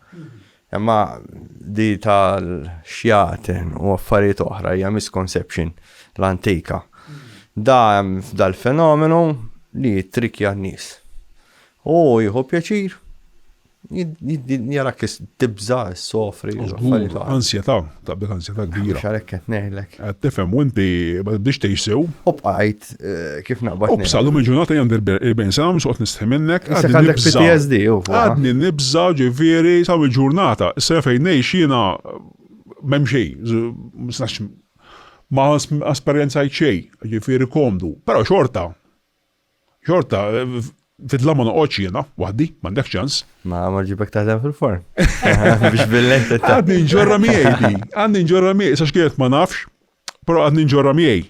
Imma di tal-xjaten u affarijiet oħra hija misconception l-antika. Da hemm f'dal-fenomenu li trikja n-nies. U jieħu pjaċir Jarak li tibża, s-sofri, l-affarijiet. Ansjeta, taqbel ansjeta kbira. Xarek qed ngħidlek. Qed tifhem u inti ma tibdix tgħix sew. U bqajt eh, kif naqbad. U bsa lum il-ġurnata jandi l-40 sena mhux qed nistħi minnek. Issa għandek PTSD u. Għadni nibża ġifieri sa il-ġurnata. Issa fejn ngħix jiena m'hemm xejn. Ma esperjenzajt xejn, ġifieri komdu. Però xorta Xorta, fidla ma noqgħodx jiena waħdi, m'għandek ċans. Ma ma ġibek taħdem fil-forn. Biex billejn tetta. Għadni nġorra miegħi di. Għadni nġorra miegħi, sa x'kienet ma nafx, però għadni nġorra miegħi.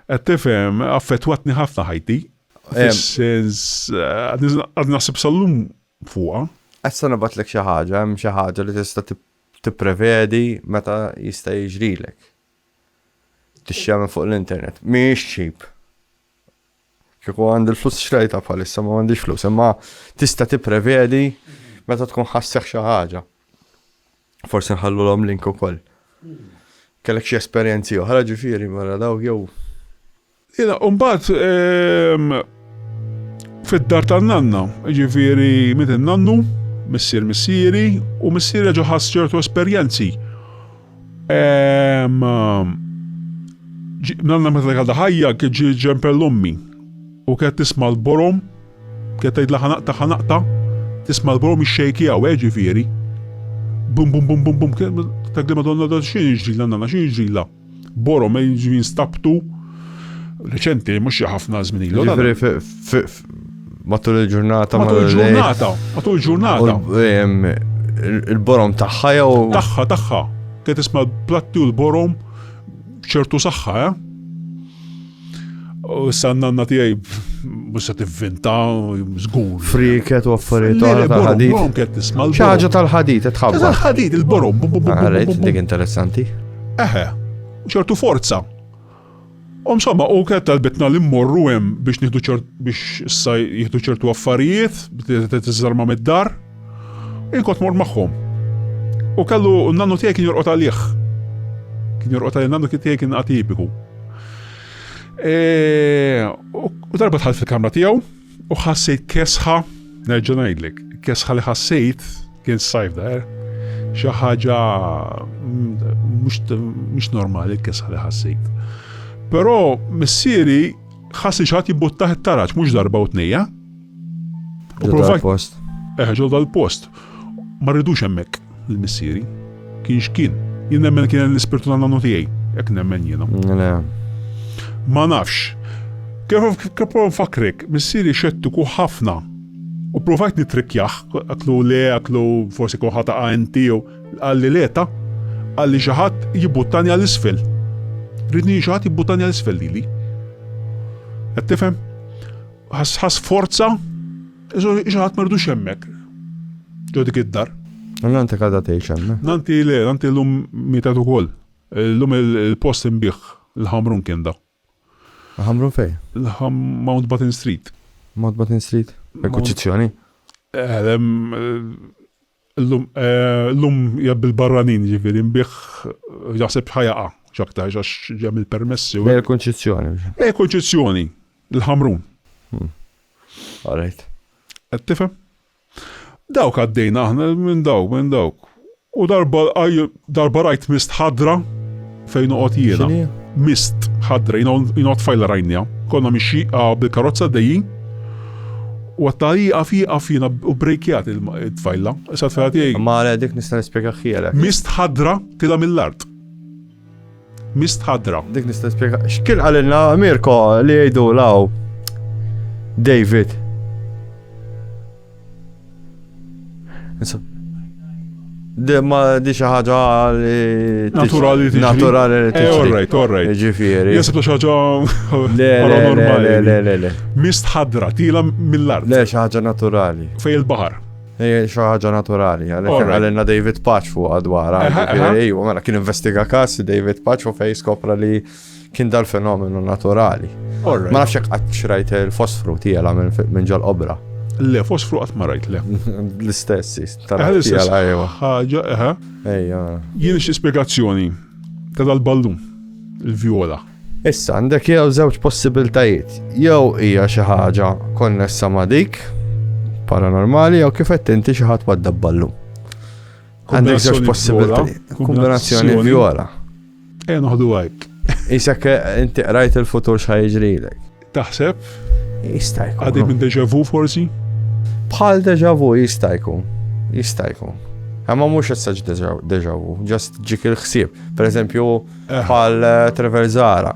Qed tifhem, affettwatni ħafna ħajti. Fis-sens, għadni naħseb sal-lum fuqha. Issa nabatlek xi ħaġa, hemm xi ħaġa li tista' tipprevedi meta jista' jiġrilek. Tixxemmen fuq l-internet. Mhix cheap. Kieku għandi l-flus xrajta bħalissa ma għandix flus, imma tista' tipprevedi meta tkun ħasseħ xi ħaġa. Forsi nħallu l-om link ukoll. Kellek xi esperjenzi oħra ġifieri mara mela dawk jew. Ila, umbat ehm, fid-dar tan-nanna, ġifieri mit nannu missier missieri u missier ġoħas ċertu esperjenzi Ehm, nanna meta għadha ħajja kien ġi ġempel ummi u kienet tisma' l-borom, kienet tgħidla ħanaqta ħanaqta, tisma' l-borom ix-xejki għaw, eh, ġifieri. Bum bum bum bum bum, tagħdi madonna da xi ġrila nanna, xi ġrila. Borom, eh, ġvien stabtu, reċenti, mhux ħafna żmien ilu. Matul il-ġurnata. Matul il-ġurnata. Matul il-ġurnata. Il-borom tagħha jew. Tagħha, tagħha. Kien tisma' platti u l-borom ċertu saħħa, eh? U s-sannanna tijaj musa t-vinta, zgur. Friket u affarijiet tal-ħadid. ċaġa tal-ħadid, tħabba. Tal-ħadid, il-borom. Għarajt, dik interessanti. Eħe, ċertu forza. U msomma, u kienet talbitna li mmorru hemm biex nieħdu ċert biex issa jieħdu ċertu affarijiet, biex tiżarma mid-dar. Inkot mort magħhom. U kellu n-nannu tiegħi kien jorqod għalih. Kien jorqod għalih nannu tiegħi kien atipiku. E, u darba tħall fil-kamra tiegħu, U ħassejt kesħa, nerġa' ngħidlek, kesħa li ħassejt kien sajf daher. Xi ħaġa mm, mhux normali l-kesħa li ħassejt. Però missieri ħassi xaħat jibbuttaħ it-taraġ mhux darba u tnejja. U provajt. Eħġol dal-post. Ma rridux hemmhekk lil missieri. Kien x'kien. Jien nemmen kien l-ispirtu ta' nannu tiegħi. Hekk nemmen jiena. Le. Ma nafx. Kif nfakkrek, missieri xettiku ħafna. U pprovajt nittrikkjah, għedtlu le, għedtlu forsi kont ħa taqa' inti jew. Qalli le ta'. Qalli xi ħadd jibbuttani għal isfel. Ridni xi ħadd jibbuttani għal isfel lili. Qed tifhem? Ħa sforza Xaħat mardux hemmhekk. Ġo dik id-dar. Nanti kada tgħix hemmhekk. Nanti le, nanti llum mietet ukoll. Llum il-post inbih l-ħamrun kien da. Ħamrun fej? Mount Batten Street. Mount Batten Street? Il-kuċċizzjoni? Eh, Illum jgħab bil-barranin, jiġifieri nbigħ jaħseb x'ħa jaqa' x'aktarx għax hemm il-permessi u. Bejn il-kunċizzjoni. Bejn il-kunċizzjoni, il-Ħamrun. All right. Qed tifhem? Dawk għaddejna aħna minn dawk, minn dawk. U darba Darba rajt mist ħadra fejn noqgħod jiena. X'inhi? Mist ħadra, jiena jiena tfajla rajnija. Konna mixi ah, bil-karozza dejjin. U għatta iqaf iqaf jiena u brejkjat il-tfajla. Issa tfajla tiegħi. Ma għale dik nista' nispjega ħjielek. Mist ħadra tila mill-art. Mist ħadra. Dik nista' nispjega. X'kien qalilna Mirko li jgħidu law David. Ma di xi ħaġa li. Naturali tiġi. Naturali li tiġi. Eh, all right, all right. Ġifieri. Jasib xi ħaġa. Le, le, le, le, le. Mist ħadra, tila mill-art. Le, xi ħaġa naturali. Fej il-baħar. Ej, xi ħaġa naturali, għalina David Paċ fuq għadwara. Ej, mela kien investiga kas David Paċ u fej skopra li Kien dal-fenomenu naturali. Ma nafx hekk qatt xrajt il-fosfru tiela minn ġol obra. Le, fosfru qatt ma rajt le. L-istess, tal-istess. Ħaġa, eħe. Ejja. Jien xi spjegazzjoni ta' dal-ballun, il-vjola. Issa għandek jew żewġ possibiltajiet. Jew hija xi ħaġa konnessa ma' dik paranormali jew kif qed inti xi ħadd wadda ballun. Għandek żewġ possibiltajiet. Kombinazzjoni vjola. Ejja noħdu hike. Isek inti qrajt il-futur x'ħa jiġrilek. Taħseb? Jista' jkun. Għadi minn deja vu forsi? Bħal deja vu jista' jkun. Jista' jkun. Għamma mux jessaġ deja vu, just ġik il-ħsib. Per eżempju, eh. bħal eh, Trevor Zara.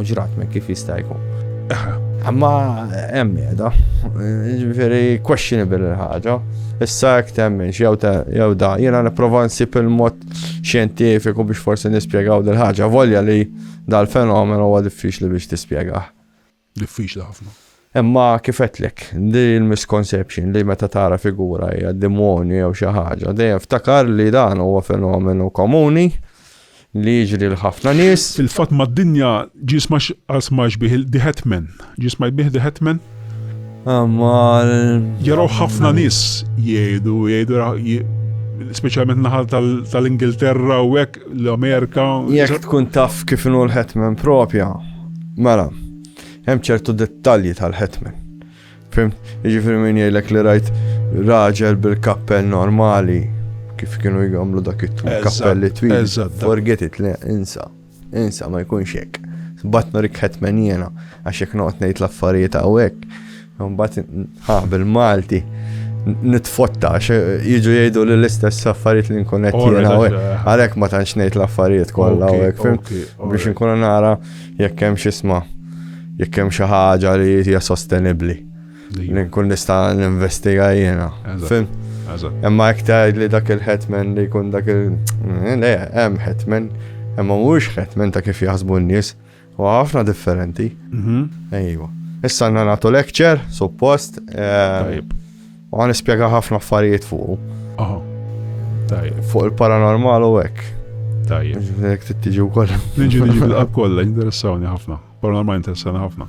Uġrat me kif jista' jkun. Amma hemm qiegħda, ġifieri questionable il-ħaġa. Issa hekk temminx jew jew da, jiena nipprova nsib il-mod xjentifiku biex forsi nispjegaw dil-ħaġa, volja li dal-fenomen huwa diffiċli biex tispjegah. diffiċli ħafna. Imma kif għedtlek, di l-misconception li meta tara figura hija demonju jew xi ħaġa, dejjem ftakar li dan huwa fenomenu komuni li jiġri l-ħafna nies. Il-fatt mad-dinja ġie smax bih The Hetman, ġie smax bih The Hetman? Imma. Jaraw ħafna nies jgħidu, jgħidu speċjalment naħal tal-Ingilterra u hekk l-Amerika. Jekk tkun taf kif inhu l-hetman propja, mela, hemm ċertu dettalji tal-hetman. Fim, jiġifieri min jgħidlek li rajt raġel bil-kappell normali kif kienu jgħamlu dak it-kappelli twil. Forget it, le, insa. Insa, ma jkunx hekk. Batna rik hetman jiena, għax jekk noqgħod ngħid l-affarijiet hawnhekk Mbagħad ha bil-Malti nitfotta jiġu jgħidu li l-istess affarijiet li nkun qed jiena għalhekk ma tantx ngħid l-affarijiet kollha hekk fim biex nkun nara jekk hemm x'isma' jekk hemm xi ħaġa li hija sostenibbli. Li nkun nista' ninvestiga jiena. Fim? Imma jekk tgħid li dak il-hetman li jkun dak il- eh, le, hemm hetman, imma mhux hetman ta' kif jaħsbu n-nies. U ħafna differenti. Mhm. Ejwa. Issa għanna nagħtu lecture, suppost. Eh, u għan ispjega ħafna affarijiet fuq. Aha. Tajjeb. Fuq il-paranormal u hekk. Tajjeb. Jek tittiġi wkoll. Niġi niġi bil-qab kollha, interessawni ħafna. Paranormal interessawni ħafna.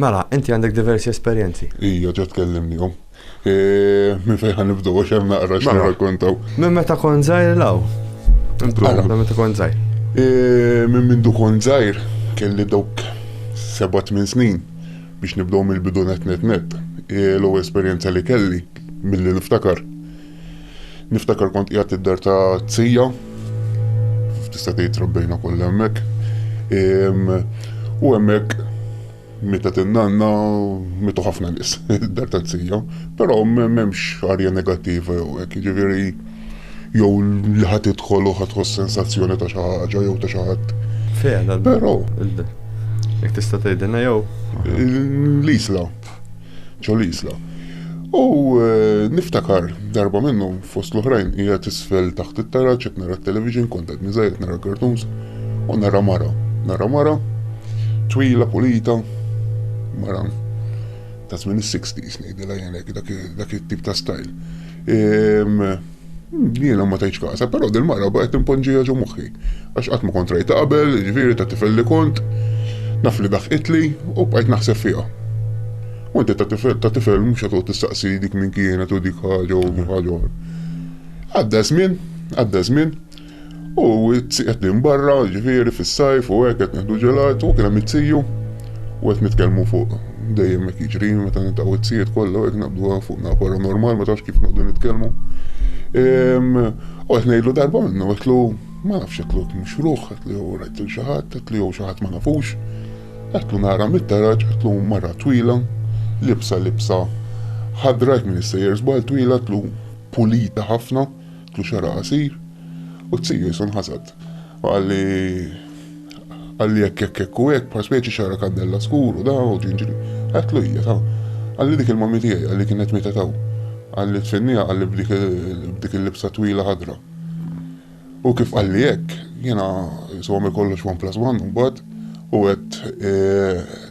Mela, inti għandek diversi esperjenzi. Ija, ġa tkellimnihom. Minn fejn ħa nibdew għax hemm naqra xi mela, rakkontaw. Minn meta kont żgħir law. Mela. Minn meta kont żgħir. Minn mindu kont żgħir kelli dawk seba' tmien snin biex nibdew mill-bidu net net net. L-ewwel esperjenza li kelli milli niftakar Niftakar kont qiegħed id-dar ta' tsija, tista' tgħid trabbejna kollha hemmhekk. U hemmhekk meta tinnanna mitu ħafna nies id-dar ta' tsija, però m'hemmx arja negattiva jew hekk, jiġifieri jew li ħadd idħol u ħadd sensazzjoni ta' xi ħaġa jew ta' xi ħadd. Però. Jekk tista' tgħidilna jew. L-isla. ġo l-Isla. U niftakar darba minnhom fost l-oħrajn qiegħed isfel taħt it-taraġ qed nara t-television kont qed niżajjed nara cartoons u nara mara, nara mara twila pulita mara ta' żmien is-60s ngħidilha jien hekk dak it-tip ta' style. Ehm, Jiena ma tajċ kasa, però din mara baqgħet timponġija ġo moħħi. Għax qatt ma kont rajta qabel, ġifieri ta' tifel li kont, naf li daħqitli u bqajt naħseb fiha. U inti ta' tifel ta' tifel mhux qed toqgħod tistaqsi dik min kienet u dik ħaġa u ħaġa oħra. Għadda żmien, għadda żmien, U t-zzi qed nin barra, ġifieri fis-sajf u hekk qed nieħdu ġelat u kien hemm it-ziju u qed nitkellmu fuq dejjem hekk jiġri meta niltaqgħu t-zijiet kollha hekk naqbdu fuq na paranormal ma tafx kif noqdu nitkellmu. Ehm, u qed ngħidlu darba minnu qedlu ma nafx qedlu mhux ruħ, qedlu jew rajt lil xi ħadd, qedlu jew xi ħadd ma nafux. Qedlu nara mit-taraġ, qedlu mara twila, libsa libsa ħadra hekk minn is-sejjer żball twila, qedlu pulita ħafna. Kien xagħra qasir u t-tiju jisu nħasad. U qal li qal li hekk hekk hekk u hekk bħal speċi xagħra kandella skur u da u ġinġri. Għedtlu hija ta. Qal li dik il-mommy tiegħi qal li kienet mietet hawn. Qal li tfenniha qal li b'dik il-libsa twila ħadra. U kif qal li hekk, jiena isu għamil kollox one plus one imbagħad u għedt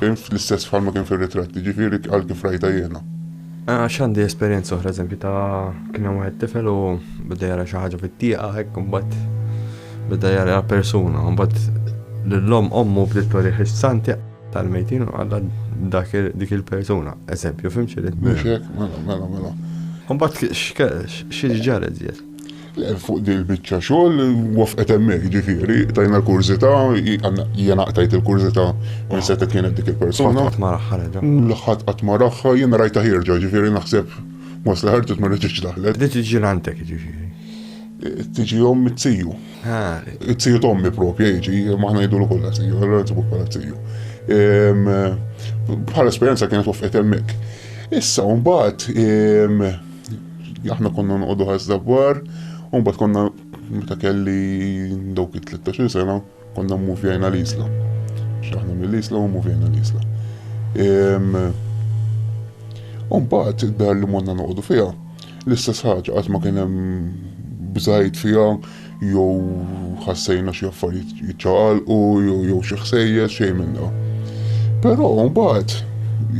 Inf, L-istess bħalma kien fir-ritratti, ġifieri għal kif rajtha jiena. Għax għandi esperjenza oħra, eżempju ta' kien hemm wieħed tifel u beda jara xi ħaġa fit-tieqa hekk imbagħad beda jara persuna, imbagħad lill-omm ommu bdiet torih is-santi tal-mejtin u għadha dak dik il-persuna. Eżempju, fimx irid. Mhux hekk, mela, mela, mela. Imbagħad xi ġara żjed? Fuq din il-biċċa xogħol wafqet hemmhekk, jiġifieri tajna l-kurżità, jiena qtajt il-kurżità minn setgħet kienet dik il-persuna. Qatt ma raħħa reġa'. L-ħadd qatt ma raħħa, jiena rajtha ħierġa, jiġifieri naħseb wasla ħarġet ma reġgħetx daħlet. Bdiet tiġi għandek jiġifieri? Tiġi omm it-tiju. It-tiju t'ommi proprja jiġi, imma aħna ngħidulu kollha tiju, allura nsibuk bħala tiju. Bħala esperjenza kienet wafqet hemmhekk. Issa mbagħad aħna konna noqogħdu ħasda bar, u mbagħad konna meta kelli dawk it-13 sena konna mmuvjajna l-isla. X'aħna mill-isla u mmuvjajna l-isla. U mbagħad id-dar li monna noqogħdu fiha l-istess ħaġa qatt ma kien hemm bżajt fiha, jew ħassejna xi affarijiet jiċċaqalqu jew xi ħsejjes xejn minn dawn. Però mbagħad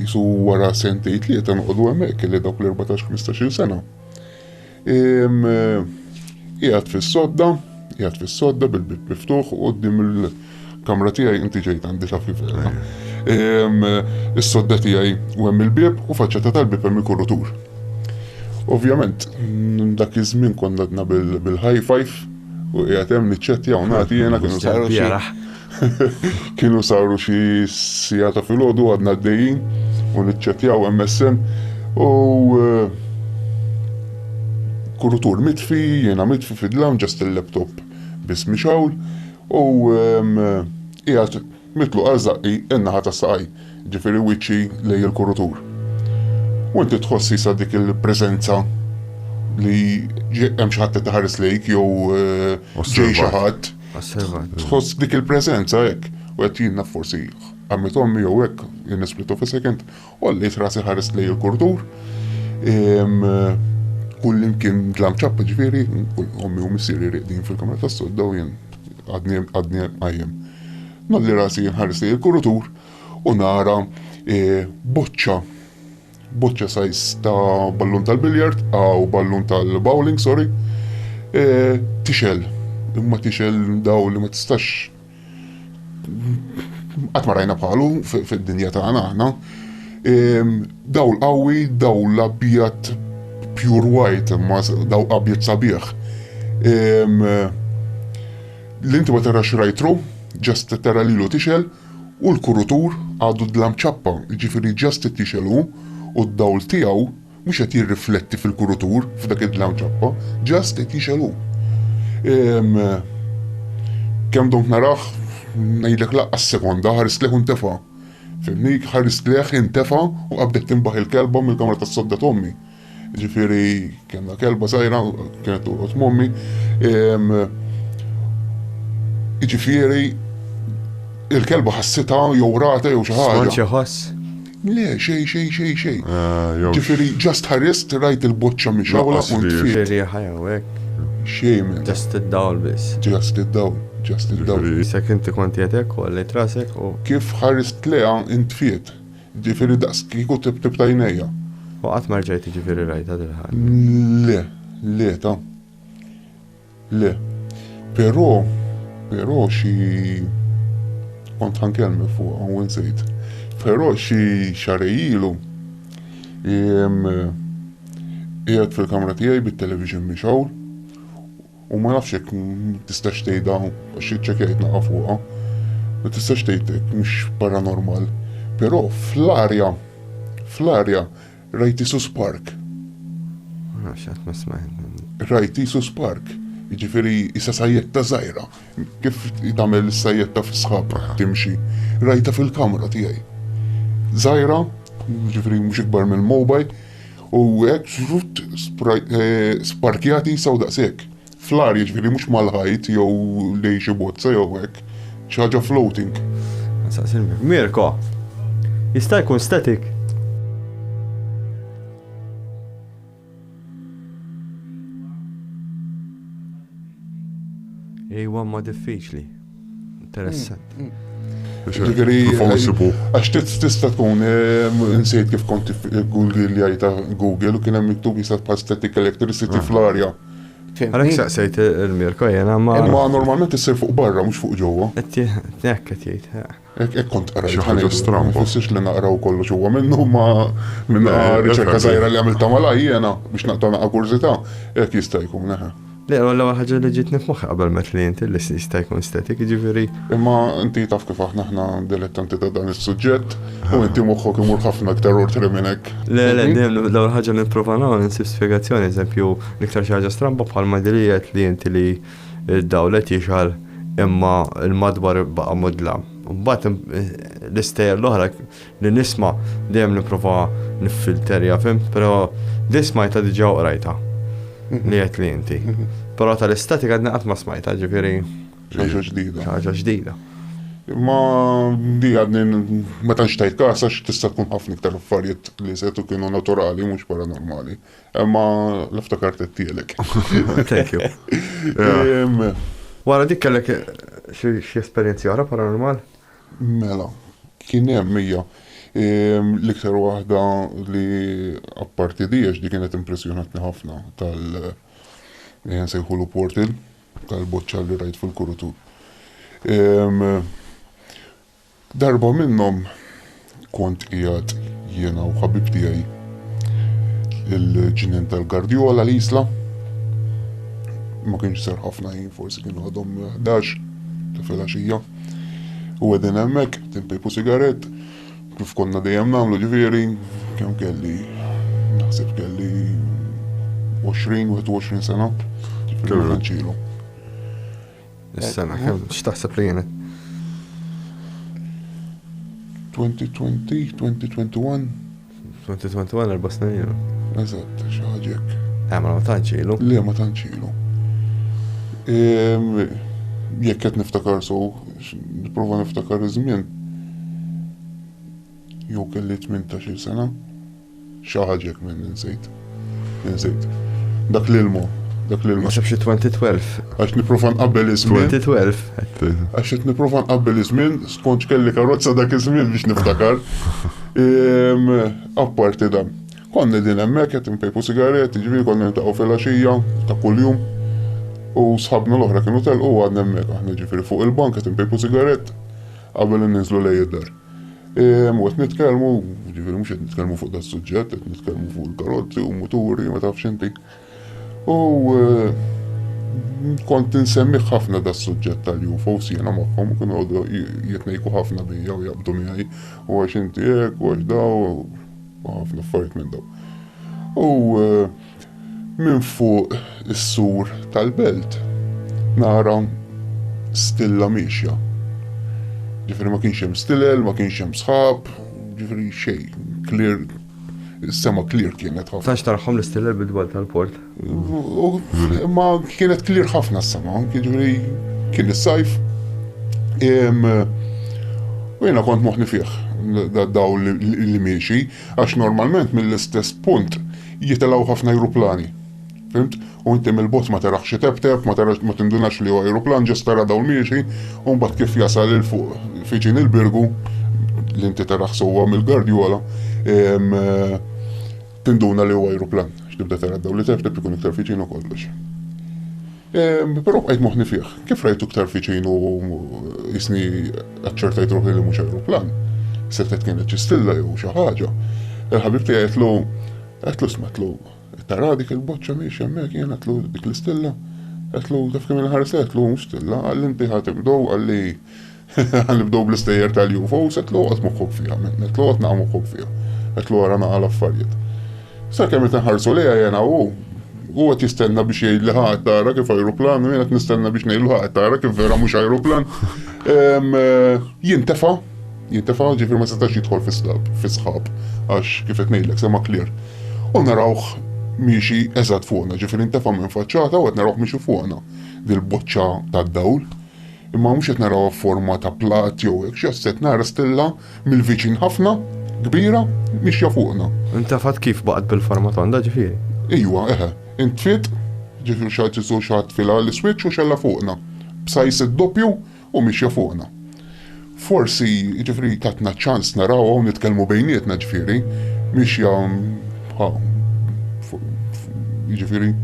jisu wara sentej tlieta noqogħdu hemmhekk li dawk l-14-15 sena. Qiegħed fis-sodda, qiegħed fis-sodda bil-bib miftuħ u qudiem Kamra tiegħi inti ġejt għandi ta' fifela. Is-sodda tiegħi u hemm il-bieb u faċċata tal-bieb hemm il-kurutur. Ovvjament, dak iż-żmien konna għadna bil-high five u qiegħed hemm niċċettja u nagħti jiena kienu saru xi kienu saru xi sija ta' filgħodu għadna għaddejjin u niċċettjaw MSN u eh, kurutur mitfi, jiena mitfi fid-dlam ġast il-laptop biss mixawl U qiegħed mitluq għal żaqqi n-naħa ta' saqaj, jiġifieri wiċċi lejn il-kurutur. U inti tħoss issa dik il-preżenza li hemm xi ħadd qed iħares lejk jew ġej xi ħadd. Tħoss dik il-preżenza hekk. U qed jiena forsi għamilt ommi jew hekk in a split of a second Għolliet rasi ħarist lej il-kurdur. Kull imkien dlam ċappa ġviri, ommi u missiri riqdin fil-kamra ta' sodda u jien għadni għajem. Nolli rasi ħarist lej il-kurdur u nara eh, boċċa boċċa sajs ta' ballun tal-biljard, għaw ballun tal-bowling, sorry, e, tixel, imma tixel daw li ma tistax Qatt ma rajna bħalu fid-dinja tagħna aħna. Daw l-qawwi, daw l-abjad pure white, imma daw abjad sabiħ. L-inti ma tarax rajtru, ġast tara lilu tixel, u l-kurutur għadu dlam ċappa, ġifiri ġast t-tixel u d-dawl tiegħu Mhux qed jirrifletti fil-kurutur f'dak id-dlam ċappa, just qed jixgħel hu. Ehm, kemm domt narah, ngħidlek laqqas sekonda, ħarist leħ u ntefa'. Fimni, ħarist leħ, intefa' u qabdet tinbaħ il-kelba mill-kamra tas-sodda t'ommi. Ġifieri kellna kelba żgħira, kienet torqod m'ommi. Ehm, ġifieri il-kelba ħassitha jew rata jew xi ħaġa. Skonċi ħoss? Le, xejn, xejn, xejn, xejn. Ġifieri just ħarist, rajt il-boċċa mixgħula u ntfiet. Xi riħa jew hekk? Xejn minn hekk. Just id-dawl biss. Just id-dawl, just id-dawl. Issek inti kont qiegħed hekk u għallejt rasek u. Kif ħarist lejha ntfiet. Ġifieri daqskieku tibtibt għajnejja. U qatt ma rġajt jiġifieri rajtha dil-ħaġa? Le, le, ta. Le. Però, però xi, kont ħa nkellmek fuqha u nsejt. Però xi xarej ilu qiegħed fil-kamra tiegħi bit-television mixgħul u ma nafx jekk tistax tgħidha għax iċċekkjajt naqa' fuqha. Ma tistax tgħid hekk mhux paranormal. Però fl-arja, fl-arja Rajt Isus Park? Nafx qatt ma smajt. Rajt Isus Park? Jiġifieri isa sajjetta żgħira. Kif tagħmel is-sajjetta fis-sħab timxi. Rajta fil-kamra tiegħi. Żgħira, jiġifieri mhux ikbar mill-mobile, u hekk żrutt sparkjat isa u daqshekk. Fl-art, jiġifieri mhux mal-ħajt jew lejn xi bozza jew hekk. Xi ħaġa floating. Mirko, jista' jkun static? Ejwa imma diffiċli. Interessant. Mm, mm. Ġifiri, għax tista tkun, eh, nsejt kif kont Google li għajta Google u kienem miktub jisat pa' static electricity ah. fl-arja. Għalek saqsajt il-mirko jena ma. Ma normalment jisir fuq barra, mux fuq ġowa. Ekk, jgħid. Hekk hekk kont qrajt. Xi ħaġa stramba. Ma jfissirx li naqraw kollox huwa minnu ma minn riċerka żgħira li għamiltha malaj jiena biex naqta' naqa' kurżità hekk jista' jkun eħe. Le, u l-ewwel ħaġa li ġietni f'moħħi qabel ma li inti li jista' jkun static, jiġifieri. Imma inti taf kif aħna aħna dilettanti ta' dan is-suġġett u inti moħħok imur ħafna iktar ortri minn hekk. Le, le, dejjem l-ewwel ħaġa li nipprova nagħmel insib spjegazzjoni, eżempju, l-iktar xi ħaġa stramba bħalma dik li qed li inti li Id-dawl qed jixgħal imma l-madwar baqa' mudlam. Imbagħad l-istejjer l-oħra li nisma' dejjem nipprova niffilterja, fimt, però din smajtha diġà u qrajtha li għedtli inti. Però tal-istatik għadni qatt ma smajtha, ġifieri. Xi ħaġa ġdida. Xi ħaġa ġdida. Imma di għadni meta nxtajt każ għax tista' tkun ħafna iktar affarijiet li setu kienu naturali mhux paranormali. Imma l-iftakart it-tielek. Thank you. Wara dik kellek xi esperjenzi oħra paranormal? Mela, kien hemm hija. L-iktar waħda li apparti di għax di kienet impressjonatni ħafna tal nsejħulu portal tal-boċċa li rajt fil-kurutur. Darba minnhom kont qiegħed jiena u ħabib tiegħi il-ġnien tal-Gardjola l-Isla. Ma kienx ser ħafna ħin, forsi kienu għadhom 11 ta' filgħaxija. U għedin hemmhekk tinpejpu sigarett kif konna dejjem nagħmlu ġifieri kemm kelli naħseb kelli 20 21 sena. Ġifieri Is-sena kemm x'taħseb li kienet? 2020, 2021. 2021 erba' snin ilu. Eżatt, xi ħaġa hekk. Eh, ma tantx ilu. Le, ma tantx ilu. Ehm, jekk qed niftakar so, nipprova niftakar iż-żmien. Jew kelli 18-il sena. Xi ħaġa hekk minn insejt. Insejt. Dak l-ilmu. Dak l-ilmu. Ma xafx 2012. Għax niprofa nqabbel iż-żmien. 2012. Għax qed niprofa nqabbel iż-żmien, skonċ kelli karozza dak iż-żmien biex niftakar. Ehm, apparti dan. Konna din hemmhekk qed npejpu sigaretti, ġifieri konna niltaqgħu fil-għaxija ta' kuljum. U sħabna l-oħra kienu telqu għadna hemmhekk aħna ġifieri fuq il-bank qed npejpu sigarett qabel ninżlu lej id-dar. Mut nitkellmu, ġifieri mhux qed nitkellmu fuq da suġġett, qed nitkellmu fuq il-karozzi u muturi, ma tafx inti. U kont nsemmiħ ħafna da suġġett tal-UFO sjena magħhom u kienu għodu jitnejku ħafna bija u jabdu miegħi u għax inti hekk u għax daw u ħafna affarijiet minn daw. U Minn fuq is-sur tal-belt nara stilla miexja. Ġifieri ma kienx hemm stilel, ma kienx hemm sħab, ġifieri xejn, clear, is-sema clear kienet ħafna. Tax tarahom l-istilel bid-dwal tal-port? Ma kienet clear ħafna s-sema, ġifieri kien is-sajf. U jiena kont moħni fih daw li miexi. Għax normalment mill-istess punt jitilgħu ħafna ajruplani. Fimt? U inti mill-bot ma tarax itebteb, ma tarax ma tindunax li hu ajruplan, ġest tara dawl miexi, u mbagħad kif jasal il fuq fiġin il-birgu li inti tarax sewwa mill-gardjola, eh, tinduna li hu ajruplan. X'tibda tara dawl li tebteb ikun iktar fiġin u kollox. Però bqajt moħħni fih. Kif rajtu iktar viċin u jisni aċċertajt ruħi li mhux ajruplan, settet kienet ċistilla jew xi ħaġa. Il-ħabib tiegħi qedlu qedlu smatlu tara dik il-boċċa mhix hemmhekk jien qedlu dik l-istilla. Qedlu taf kemm il-ħarsa qedlu stilla għal inti ħadd ibdow għalli Ħa nibdew bl-istejjer tal-UFOs, qed loqgħod moħħok fiha, qed loqgħod naqa' moħħok fiha, qed lora naqa' l-affarijiet. Sakemm qed inħarsu lejha jena hu, hu qed jistenna biex jgħidli ħa qed tara kif ajruplan u jien qed nistenna biex ngħidlu ħa qed tara kif vera mhux ajruplan. Eh, jintefa' jintefa' ġifir ma setax jidħol fis-sħab, għax kif qed ngħidlek sema klir. U narawh miexi eżatt fuqna, ġifir intefa' minn faċċata u qed narawh miexi fuqna dil-boċċa tad-dawl. Imma mhux qed narawha f'forma ta' platt jew hekk xi ħaġa, qed nara stilla mill-viċin ħafna, kbira, mixja fuqna. Intefgħet kif baqgħet bil-forma tonda, ġifieri? Ejwa, eħe. Intfiet, ġifieri xi ħadd isu xi ħadd tfilha l-iswiċċ u xgħelha fuqna, b'sajs id-doppju u mixja fuqna. Forsi, ġifieri tatna ċ-ċans narawha u nitkellmu bejnietna, ġifieri, mixja bħal, ġifieri,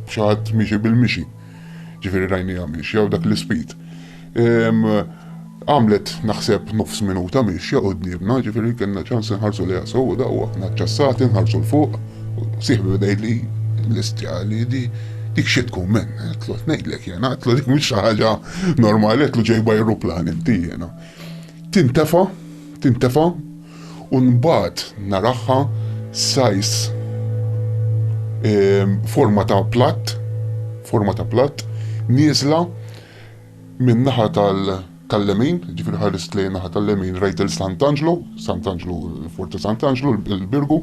xi ħadd miexi bil-mixi. Ġifieri rajniha miexja u dak l-ispid. Għamlet naħseb nofs minuta miexja quddiemna, ġifieri kellna ċans inħarsu lejha sew daw aħna ċassati nħarsu l fuq, sieħbi beda jgħidli l-istjali di dik xi tkun men, għetlu ngħidlek jena, għetlu dik mhix ħaġa normali, għetlu ġejba ajruplan inti jena. Tintefa, tintefa, U nbagħad naraha size forma ta' platt, forma ta' platt, nieżla min-naħa tal-lemin, ġifieri ħarist lejn in-naħa tal-lemin rajt il-Sant'Anġlu, Sant'Anġlu, il-Forti Sant'Anġlu, il-Birgu,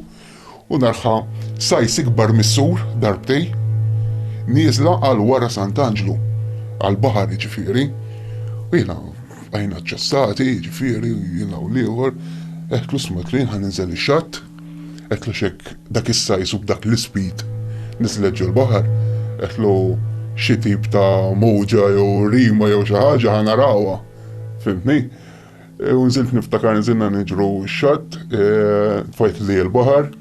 U naraha sajs ikbar mis-sur, darbtej, nieżla għal wara Sant'Anġlu, għall-baħar jiġifieri, u jiena bqajna ċċassati jiġifieri jiena u l-ieħor, għedtlu isma' għedtlu jien ħa ninżel ix-xatt, għedtlu għax hekk dak is-sajs u b'dak l-ispid niżlet ġol-baħar, għedtlu xi tip ta' mowġa jew rima jew xi ħaġa ħa narawha, fhimtni? U nżilt niftakar nżilna niġru x-xatt, tfajt li l-baħar,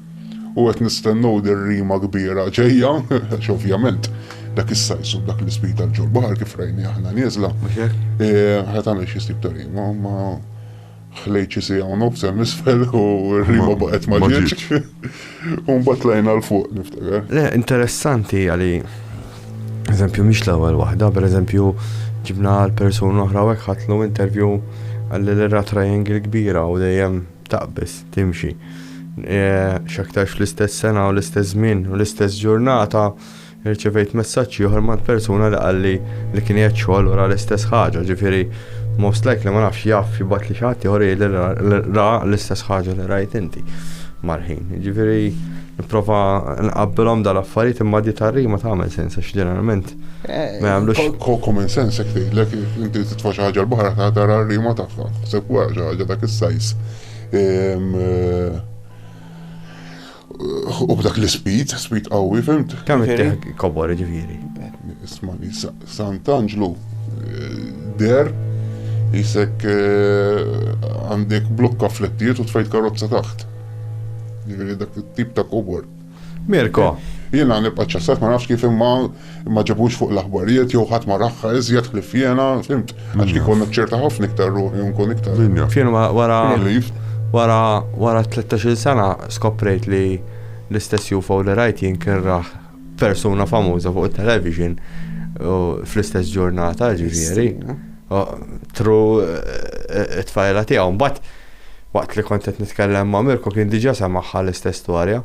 u għet nistennu dir-rima kbira ġejja, għax ovvjament dak is-sajsu dak l-ispita l-ġol baħar kif rajni aħna nieżla. Għet għamil xie stib ta' rima, ma xi sija u nofs għal nisfel u rima baqet ma ġieċ. U mbagħad tlajna l fuq niftakar. Le, interessanti għali eżempju mhix l-ewwel waħda, pereżempju ġibna l-persuna oħra hekk ħatlu intervju għalli l-ra triangle kbira u dejjem taqbis timxi. E, x'aktarx fl-istess sena u l-istess żmien u l-istess ġurnata Irċevejt messaġġ ieħor mant persuna li qalli li kien qiegħed xogħol u ra l-istess ħaġa, ġifieri most likely ma nafx jaf jibgħatli xi ħadd ieħor jgħidli li ra l-istess ħaġa li rajt inti mal-ħin. Ġifieri nipprova nqabbilhom dal-affarijiet imma di tar-rima tagħmel sens għax ġeneralment eh, ma jagħmlux. Common sense jekk tgħidlek inti titfa' xi ħaġa l-baħar ta' tara r-rima tagħha. Sepp wara xi ħaġa dak is-sajs. Ehm, eh, U b'dak l-ispid, spid qawwi, fimt? Kemm ittieħ kobor ġifieri. Ismani, Sant'Anġlu eh, der jisek eh, għandek blokka flettiet u tfajt karozza taħt. Ġifieri dak it-tip ta' kobor. Mirko. Jiena nibqa' ċassat ma nafx kif imma ma ġabux fuq l-aħbarijiet jew ħadd ma raħħa iżjed ħlief jiena, fimt? Għax kieku kont naċċerta ħafna iktar ruħi u nkun iktar. Min jaf. Fien wara wara wara tlettax-il sena skoprejt li l-istess UFO li rajt jien kien rah persuna famuża fuq it-television fl-istess ġurnata ġifieri. Tru it-tfajla tiegħu. Mbagħad waqt li kont qed nitkellem ma' Mirko kien diġà semaħħa l-istess storja.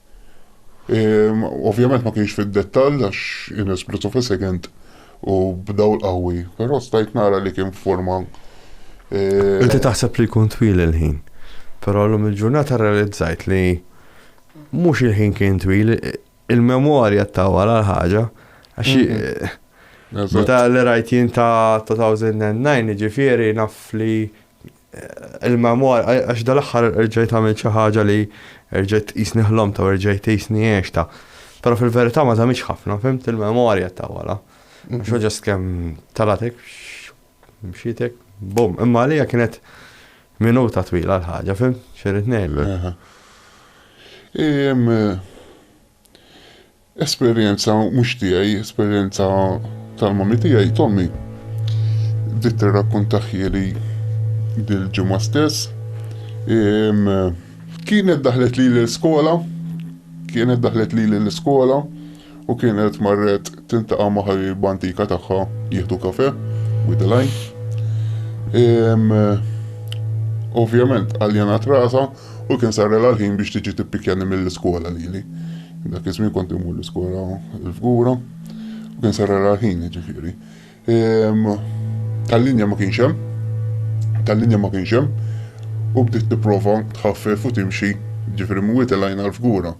Ovvjament ma kienx fid-dettall għax in a split of a second u b'dawl qawwi, però stajt nara li kien f'forma Inti taħseb li jkun twil il-ħin, però llum il-ġurnata rrealizzajt li mhux il-ħin kien twil, il-memorja ttawwal għal ħaġa għax meta li rajt jien ta' 2009 jiġifieri naf li Il-memoir, għax dal-aħħar erġajt għamilt xi ħaġa li erġajt tqisni ħlomtha u erġajt tqisni għextha. Però fil-verità ma żammix ħafna, fimt, il-memorja ta' wara. Għax ġast kemm talatek, mxietek, bum. Imma għalija kienet minuta twila l-ħaġa, fim, xirrit nejlek. Esperjenza mhux tiegħi, esperjenza tal-mommy tiegħi, t'ommi. Bdiet tirrakkuntahieli dil-ġimgħa stess. Ehm, kienet daħlet lili l-iskola, kienet daħlet lili l-iskola u kienet marret tintaqa' ma' ħabiba antika tagħha jieħdu kafe, with the line. Ehm, ovvjament għaljanat rasha U kien sarrela l-ħin biex tiġi tippikjani mill-iskola lili. Dak iż-żmien kont immur l-iskola l-fgura. U kien sarrela l-ħin, ġifieri. Ehm, tal-linja ma kienx hemm. Tal-linja ma kienx hemm. U bdiet tipprova tħaffef u timxi ġifri mwiet il-għajna l-fgura.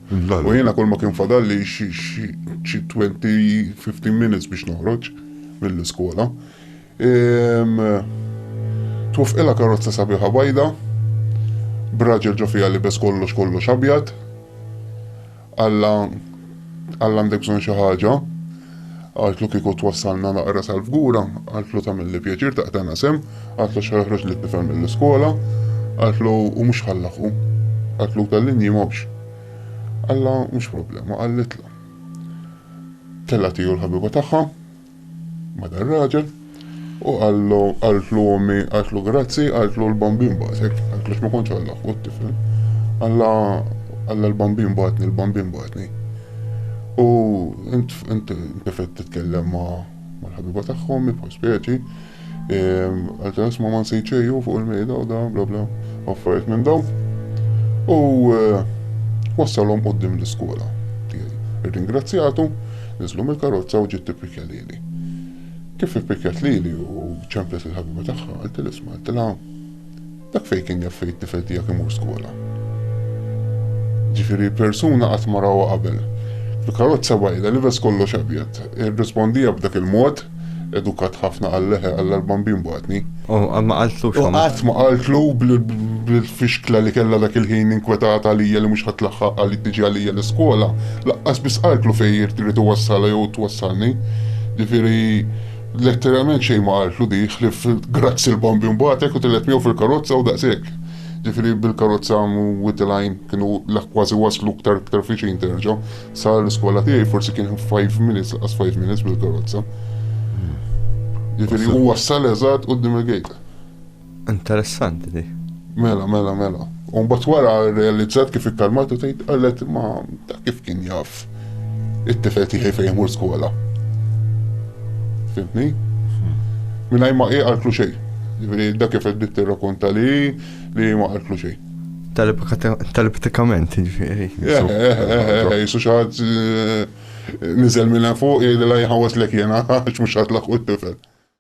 U jiena kull ma kien fadal li xi 20-15 minutes biex noħroġ mill-iskola. Twaffqilha karozza sabiħa bajda, b'raġel ġo fiha libes kollox kollox abjad. Alla Alla għandek bżonn xi ħaġa. Għaltlu kieku twassalna naqra sal-fgura, għaltlu tagħmilli pjaċir taqtana sem, għaltlu xi ħroġ li tifhem mill-iskola, għaltlu u mhux ħallaħu. Għaltlu tal-linji mhux. Alla mhux problema, għallitlu. Tella tiju l-ħabiba tagħha, ma' dar-raġel, u qallu, qaltlu ommi, qaltlu grazzi, qaltlu l-bambin bagħtek, qaltlu x'ma kontx Alla ħu t-tifel, Alla, Alla l-bambin bagħatni, l-bambin bagħatni. U int, int, int titkellem ma' mal-ħabiba tagħha ommi bħal speċi, Għalta jisma man sejċeju fuq il-mejda u dan bla bla affarijiet minn daw. U eh, wassalhom qoddim l-iskola tiegħi. Irringrazzjatu, niżlu mill-karozza u ġiet tippikja lili. Kif ippikjat lili u ċemplet il-ħabiba tagħha, għaltilha isma' għaltilha Dak fejn kien jaf fejn it-tifel tiegħek imur skola. Ġifieri persuna qatt ma rawha qabel. Fil-karozza bajda libes kollox abjad. Irrispondiha b'dak il-mod, edukat ħafna qal leħe qal l-bambin bagħatni. U qatt ma qaltlu xogħol. U qatt ma qaltlu bil-fixkla li kellha dak il-ħin inkwetata għalija li mhux ħadd laħħaq għal tiġi għalija l-iskola, laqqas biss qaltlu fejn irid iwassala jew twassalni. Ġifieri Letteralment xejn ma qaltlu dik, ħlief grazzi l-bambin bagħatek u telgħet miegħu fil-karozza u daqshekk. Ġifieri bil-karozza wied il-għajn kienu kważi waslu ktar ktar fiċin terġa'. Sa l-iskola tiegħi forsi kien five minutes, laqas five minutes bil-karozza. Ġifieri u wassal eżatt quddiem il-gate. Interessanti di. Mela, mela, mela. U mbagħad wara realizzat kif ikkalmatu tgħid qalet ma ta' kif kien jaf it-tifel tiegħi fejn imur skola. Fimtni? Minaj ma qiegħ għalklu xejn. Ġifieri dak kif qed tirrakonta li li ma għalklu xejn. Telepatikament, ġifieri. Eh, eh, eh, jisu xaħat nizel minna fuq, jgħidilha jħawas l-ek jena, għax mux għatlaq u t-tifel.